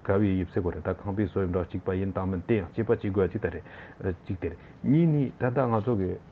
ག་བའི་དབྱིབས་བསྲེ་གོ་རེད་ད་ཁང་པའི་བཟོ་དབྱིབས་འདྲ་གཅིག་པ་ཡིན་དང་མིན་དེ་ཡང་སྤྱི་པ་གཅིག་དགོས་ཅིག་ད་རེད་ཅིག་དེ་རེད་གཉིས་ནི་ད་ལྟ་ང་ཚོ་གི།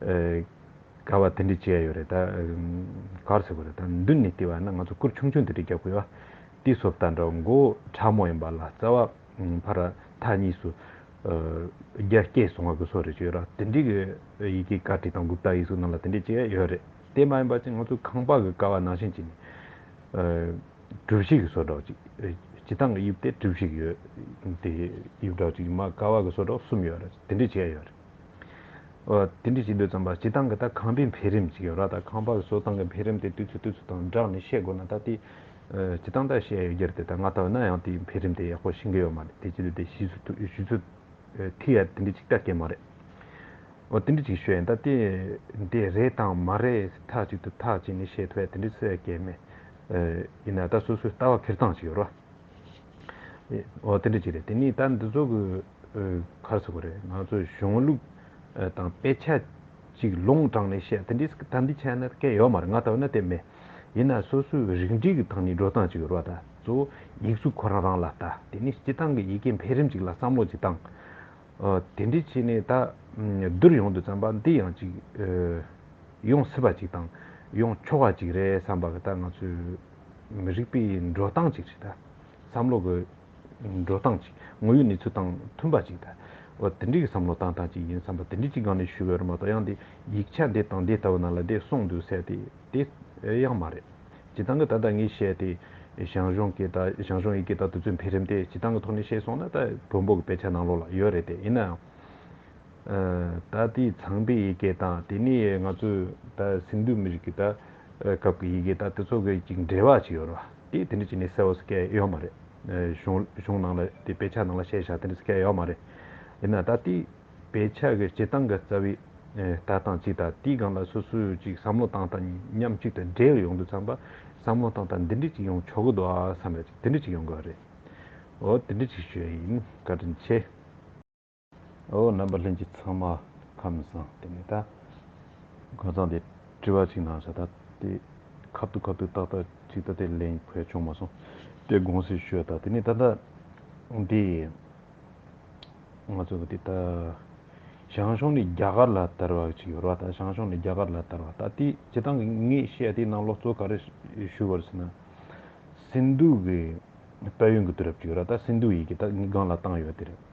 ག་བ་དེ་འདྲས་བྱས་ཡོད་རེད་ད། གར་སོ་གི་རེད་ད་མདུན་ནས་བལྟས་པ་ན་ང་ཚོ་སྐུར་ཆུང་ཆུང་དེ་འདྲས་རྒྱག་དགོས་ཨ། དེའི་སོབ་ད་འདྲ་མགོ་ཕྲ་མོ་ཡིན་པ་ལ་རྩ་བ་ཕར་ར་ཐག་གཉིས་སུ། རྒྱ་སྐྱེད་སོང་བ་གི་སོ་རེད་བྱས་ཡོད་ར་དེ་འདྲས་གི་ཡི་གེ་ཀ་ཏི་དང་གུབ་ཏ་ཡིག་གཟུགས་རྣམས་ལ་དེ་འདྲས་བྱས་ཡོད་རེད་དེ་མ་ཡིན་པ་ཅི་ང་ཚོ་ཁང་པ་གི་ཀ་བ་ནང་བཞིན་གྱི་ནི། གྲུ་བཞི་གི་སོ་སྒྲོག་ཅིག་སྤྱི་ཐང་གི་དབྱིབས་དེ་གྲུ་བཞི་གི་ཡོད་དེ་དབྱིབས་སྒྲོག་ཅིག་མ་ཀ་བ་གི་སོ་སྒྲོག་གསུམ་ཡོད་ར་དེ་འདྲས་བྱས་ཡོད་རེད། དེ་འདྲི་ཅི་འདོད་ཙམ་པ་སྤྱི་བཏང་གི་ད་ཁང་པའི་འཕེལ་རིམ་ཅིག་ཡོད་ར་ད་ཁང་པ་བཟོ་སྟངས་ཀྱི་འཕེལ་རིམ་དེ་དུས་ཚོད་དུས་ཚོད་དང་སྦྲགས་ནས་བཤད་དགོས་ན་ད་དེ་སྤྱི་བཏང་ད་བཤད་ཡོད་རྒྱུར་དེ་ད་ང་ད་འོ་ན་ཡང་དེའི་འཕེལ་རིམ་དེ་ཡག་པོ་ཤེས་གི་ཡོད་མ་རེད་དེ་ཅི་འདོད་དེ་བཞི་ཚོད་དུ་བཞི་ཚོད་ཐིག་ཡ་དེ་འདྲི་ཅིག་ད་ཀྱེ་མ་རེད། འོ་དེ་འདྲི་ཅིག་ཤོད་ཡིན་ད་དེ་དེ་རེད་དང་མ་རེད་ཟེར་ཐག་ཅིག་ཏུ་ཐག་བཅད་ནས་བཤད་ཐུབ་ཡ་དེ་འདྲི་སོ་ཡ་ཀྱེ་མ་ཡིན་ན་ད་སོ་སོའི་ལྟ་བ་འཕེལ་སྟངས་ཅིག་ཡོད་ར། འོ་དེ་འདྲ་ཅིག་རེད་དེ་ནས་ད་འདི་ཚོ་གི་ཁར་ཟེར་དགོས་རེད་ང་ཚོ་གཞུང་ལུགས་དང་དཔེ་ཆ་ཅིག་ལུང་དྲངས་ནས་བཤད་དེ་འདྲས་ད་འདི་ཆ་ན་སྐད་ཡོད་མ་རེད་ང་ད་བོད་ན་དེ་མེད་ཡིན་ན་སོ་སོའི་རིགས་འགྲེས་ཀྱི་ཐང་ནས་འགྲོ་སྟངས་ཅིག་ཡོད་རོགས་ད་གཙོ་བོ་ཡིག་གཟུགས་ཁོ་རང་རང་ལ་བལྟ་དེ་ནས་སྤྱི་བཏང་གི་ཡི་གེ་འཕེལ་རིམ་ཅིག་ལ་བསམ་བློ་ཅིག་བཏང་འོ་དེ་འདྲས་བྱས་ནས་ད་བསྡུར་ཡོང་དུ་བརྩམས་པ་འདི་ཡང་ཅིག་ཡོང་སྲིད་པ་ཅིག་དང་ཡོང་ཆོག་པ་ཅིག་རེད་བསམས་པ་གི་ད་ང་ཚོའི་མི་རིགས་པའི་འགྲོ་སྟངས་ཅིག་རེད། བསམ་བློ་གི་འགྲོ་སྟངས་ཅིག་དངོས་ཡོད་གནས་ཚུལ་དང་མཐུན་པ་ཅིག་རེད། དེ་འདྲའི་བསམ་བློ་བཏང་སྟངས་ཅིག་ཡིན་བསམ་པ་དེ་འདྲའི་ཅིག་སྒང་ནས་ཞུས་པའི་རེད་མ་གཏོགས་ཡང་དེ་ཡིག་ཆ་འདི་དང་འདི་ལྟ་བུ་ནང་ལ་དེ་གསུངས་འདུག་ཟེར་ཏེ་དེ་ཡང་མ་རེད། བྱེད་སྟངས་ཀྱི་ད་ལྟ་ངས་བཤད་དེ་ཞང་ཞུང་གི་ད་ཞང་ཞུང་ཡི་གེ་ད་དུ་ཚོད་འཕེལ་རིམ་དེ་བྱེད་སྟངས་ཀྱི་ཐོག་ནས་བཤད་སོང་ན་ད་བོན་པོ་གི་དཔེ་ཆ་ནང་ལོགས་ལ་ཡོད་རེད་དེ་ཡིན་ནའང། ད་དེའི་ཚངས་པའི་ཡི་གེ་དང་དེ་ནས་ང་ཚོའི་ད་སིནྡྷུ་མི་རིགས་ཀྱི་ད་སྐབས་ཀྱི་ཡི་གེ་དག་དེ་ཚོ་གི་ཅིག་འབྲེལ་བ་ཅིག་ཡོད་རེད་བ་དེ་དེ་འདྲ་ཅིག་ནི་གསལ་བོ་སྐད་ཡོད་མ་རེད། གཞུང་གཞུང་ནང་ལ་དེ་དཔེ་ཆ་ནང་ལ་བཤད་བཞག་དེ་འདྲ་སྐད་ཡོད་མ་རེད། ཡིན་ན་ད་དེ་དཔེ་ཆ་གི་སྤྱི་སྟངས་ཀྱི་རྩ་བའི་ལྟ་སྟངས་ཅིག་དང་དེའི་སྒང་ལ་སོ་སོའི་ཅིག་བསམ་བློ་སྟངས་དང་མཉམ་གཅིག་ཏུ་འབྲེལ་ཡོང་དུ་བརྩམས་པ་བསམ་བློ་སྟངས་དང་འདི་འདྲ་ཅིག་ཡོང་ཆོག་གི་འདུག་བསམ་པ་ཅིག་དེ་འདྲ་ཅིག་ཡོང་དགོས་རེད། འོ་དེ་འདྲ་ཅིག་ཞུ་ཡ་ཡིན་བཀའ་དྲིན་ཆེ། ཨོ་རྣམ་པ་ལྷན་ཅིག་ཚང་མ་ཁམས་བཟང་དེ་ནས་ད། ཁམས་བཟང་དེས་དྲི་བ་ཅིག་གནང་བྱ་ད་དེ། ཁབ་ཏུ་ཁབ་ཏུ་ཏག་ཏག་ཅིག་ད་དེ་ལེན་ཕོད་བྱུང་མ་སོང་དེ་དགོངས་སེལ་ཞུ་ད་དེ་ནས་ད། འདི། ང་ཚོ་གི་དེ་ད། ཞང་ཞུང་ནས་རྒྱ་གར་ལ་དར་བ་ཅིག་ཡོད་རེད་བ་ད་ཞང་ཞུང་ནས་རྒྱ་གར་ལ་དར་བ་ད་དེ་བྱེད་སྟངས་གི་ངས་བཤད་དེ་ནང་ལོག་གཙོ་ག་རེ་ཞུ་བར་ཟེར་ན། སིནྡྷུ་གི་དཔལ་ཡོན་གྱི་དུས་རབས་ཅིག་ཡོད་རེད་བ་ད་སིནྡྷུ་ཡི་གི་ད་ངའི་སྒང་ལ་བཏང་ཡོད་དེ་རེད།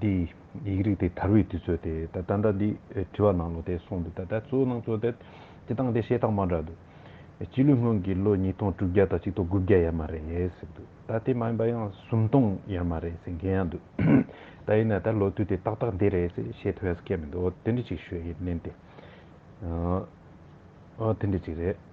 འདི་ཡིག་རིགས་ཏེ་དར་བའི་དུས་ཚོད་དེ། ད་ལྟ་འདི་བྲི་བ་ནང་ལོ་དེ་སོང་འདུག་ད་ལྟ་གཙོ་བོ་ནང་གཙོ་དེ། སྤྱི་བཏང་དེ་ཤེས་རྟགས་མ་འདྲ་འདུག། སྤྱི་ལོའི་སྔོན་གྱི་ལོ་ཉིས་སྟོང་དྲུག་བརྒྱ་དང་གཅིག་སྟོང་དགུ་བརྒྱ་ཡ་མ་རེད་ཟེར་འདུག་ད་དེ་མ་ཡིན་པ་ཡང་སུམ་སྟོང་ཡ་མ་རེད་ཟེར་མཁན་ཡང་འདུག་ད་ཡིན་ན་ད་ལོ་དུས་དེ་ཏག་ཏག་འདི་རེད་ཟེར་ཤེས་ཐུབ་ཡ་ས་ཁྱད་མི་འདུག་འོ་དེ་འདྲི་ཅིག་ཞུ་ཡིན་ནན་ཏེ། འོ་འོ་དེ་འདྲི་ཅིག་རེད།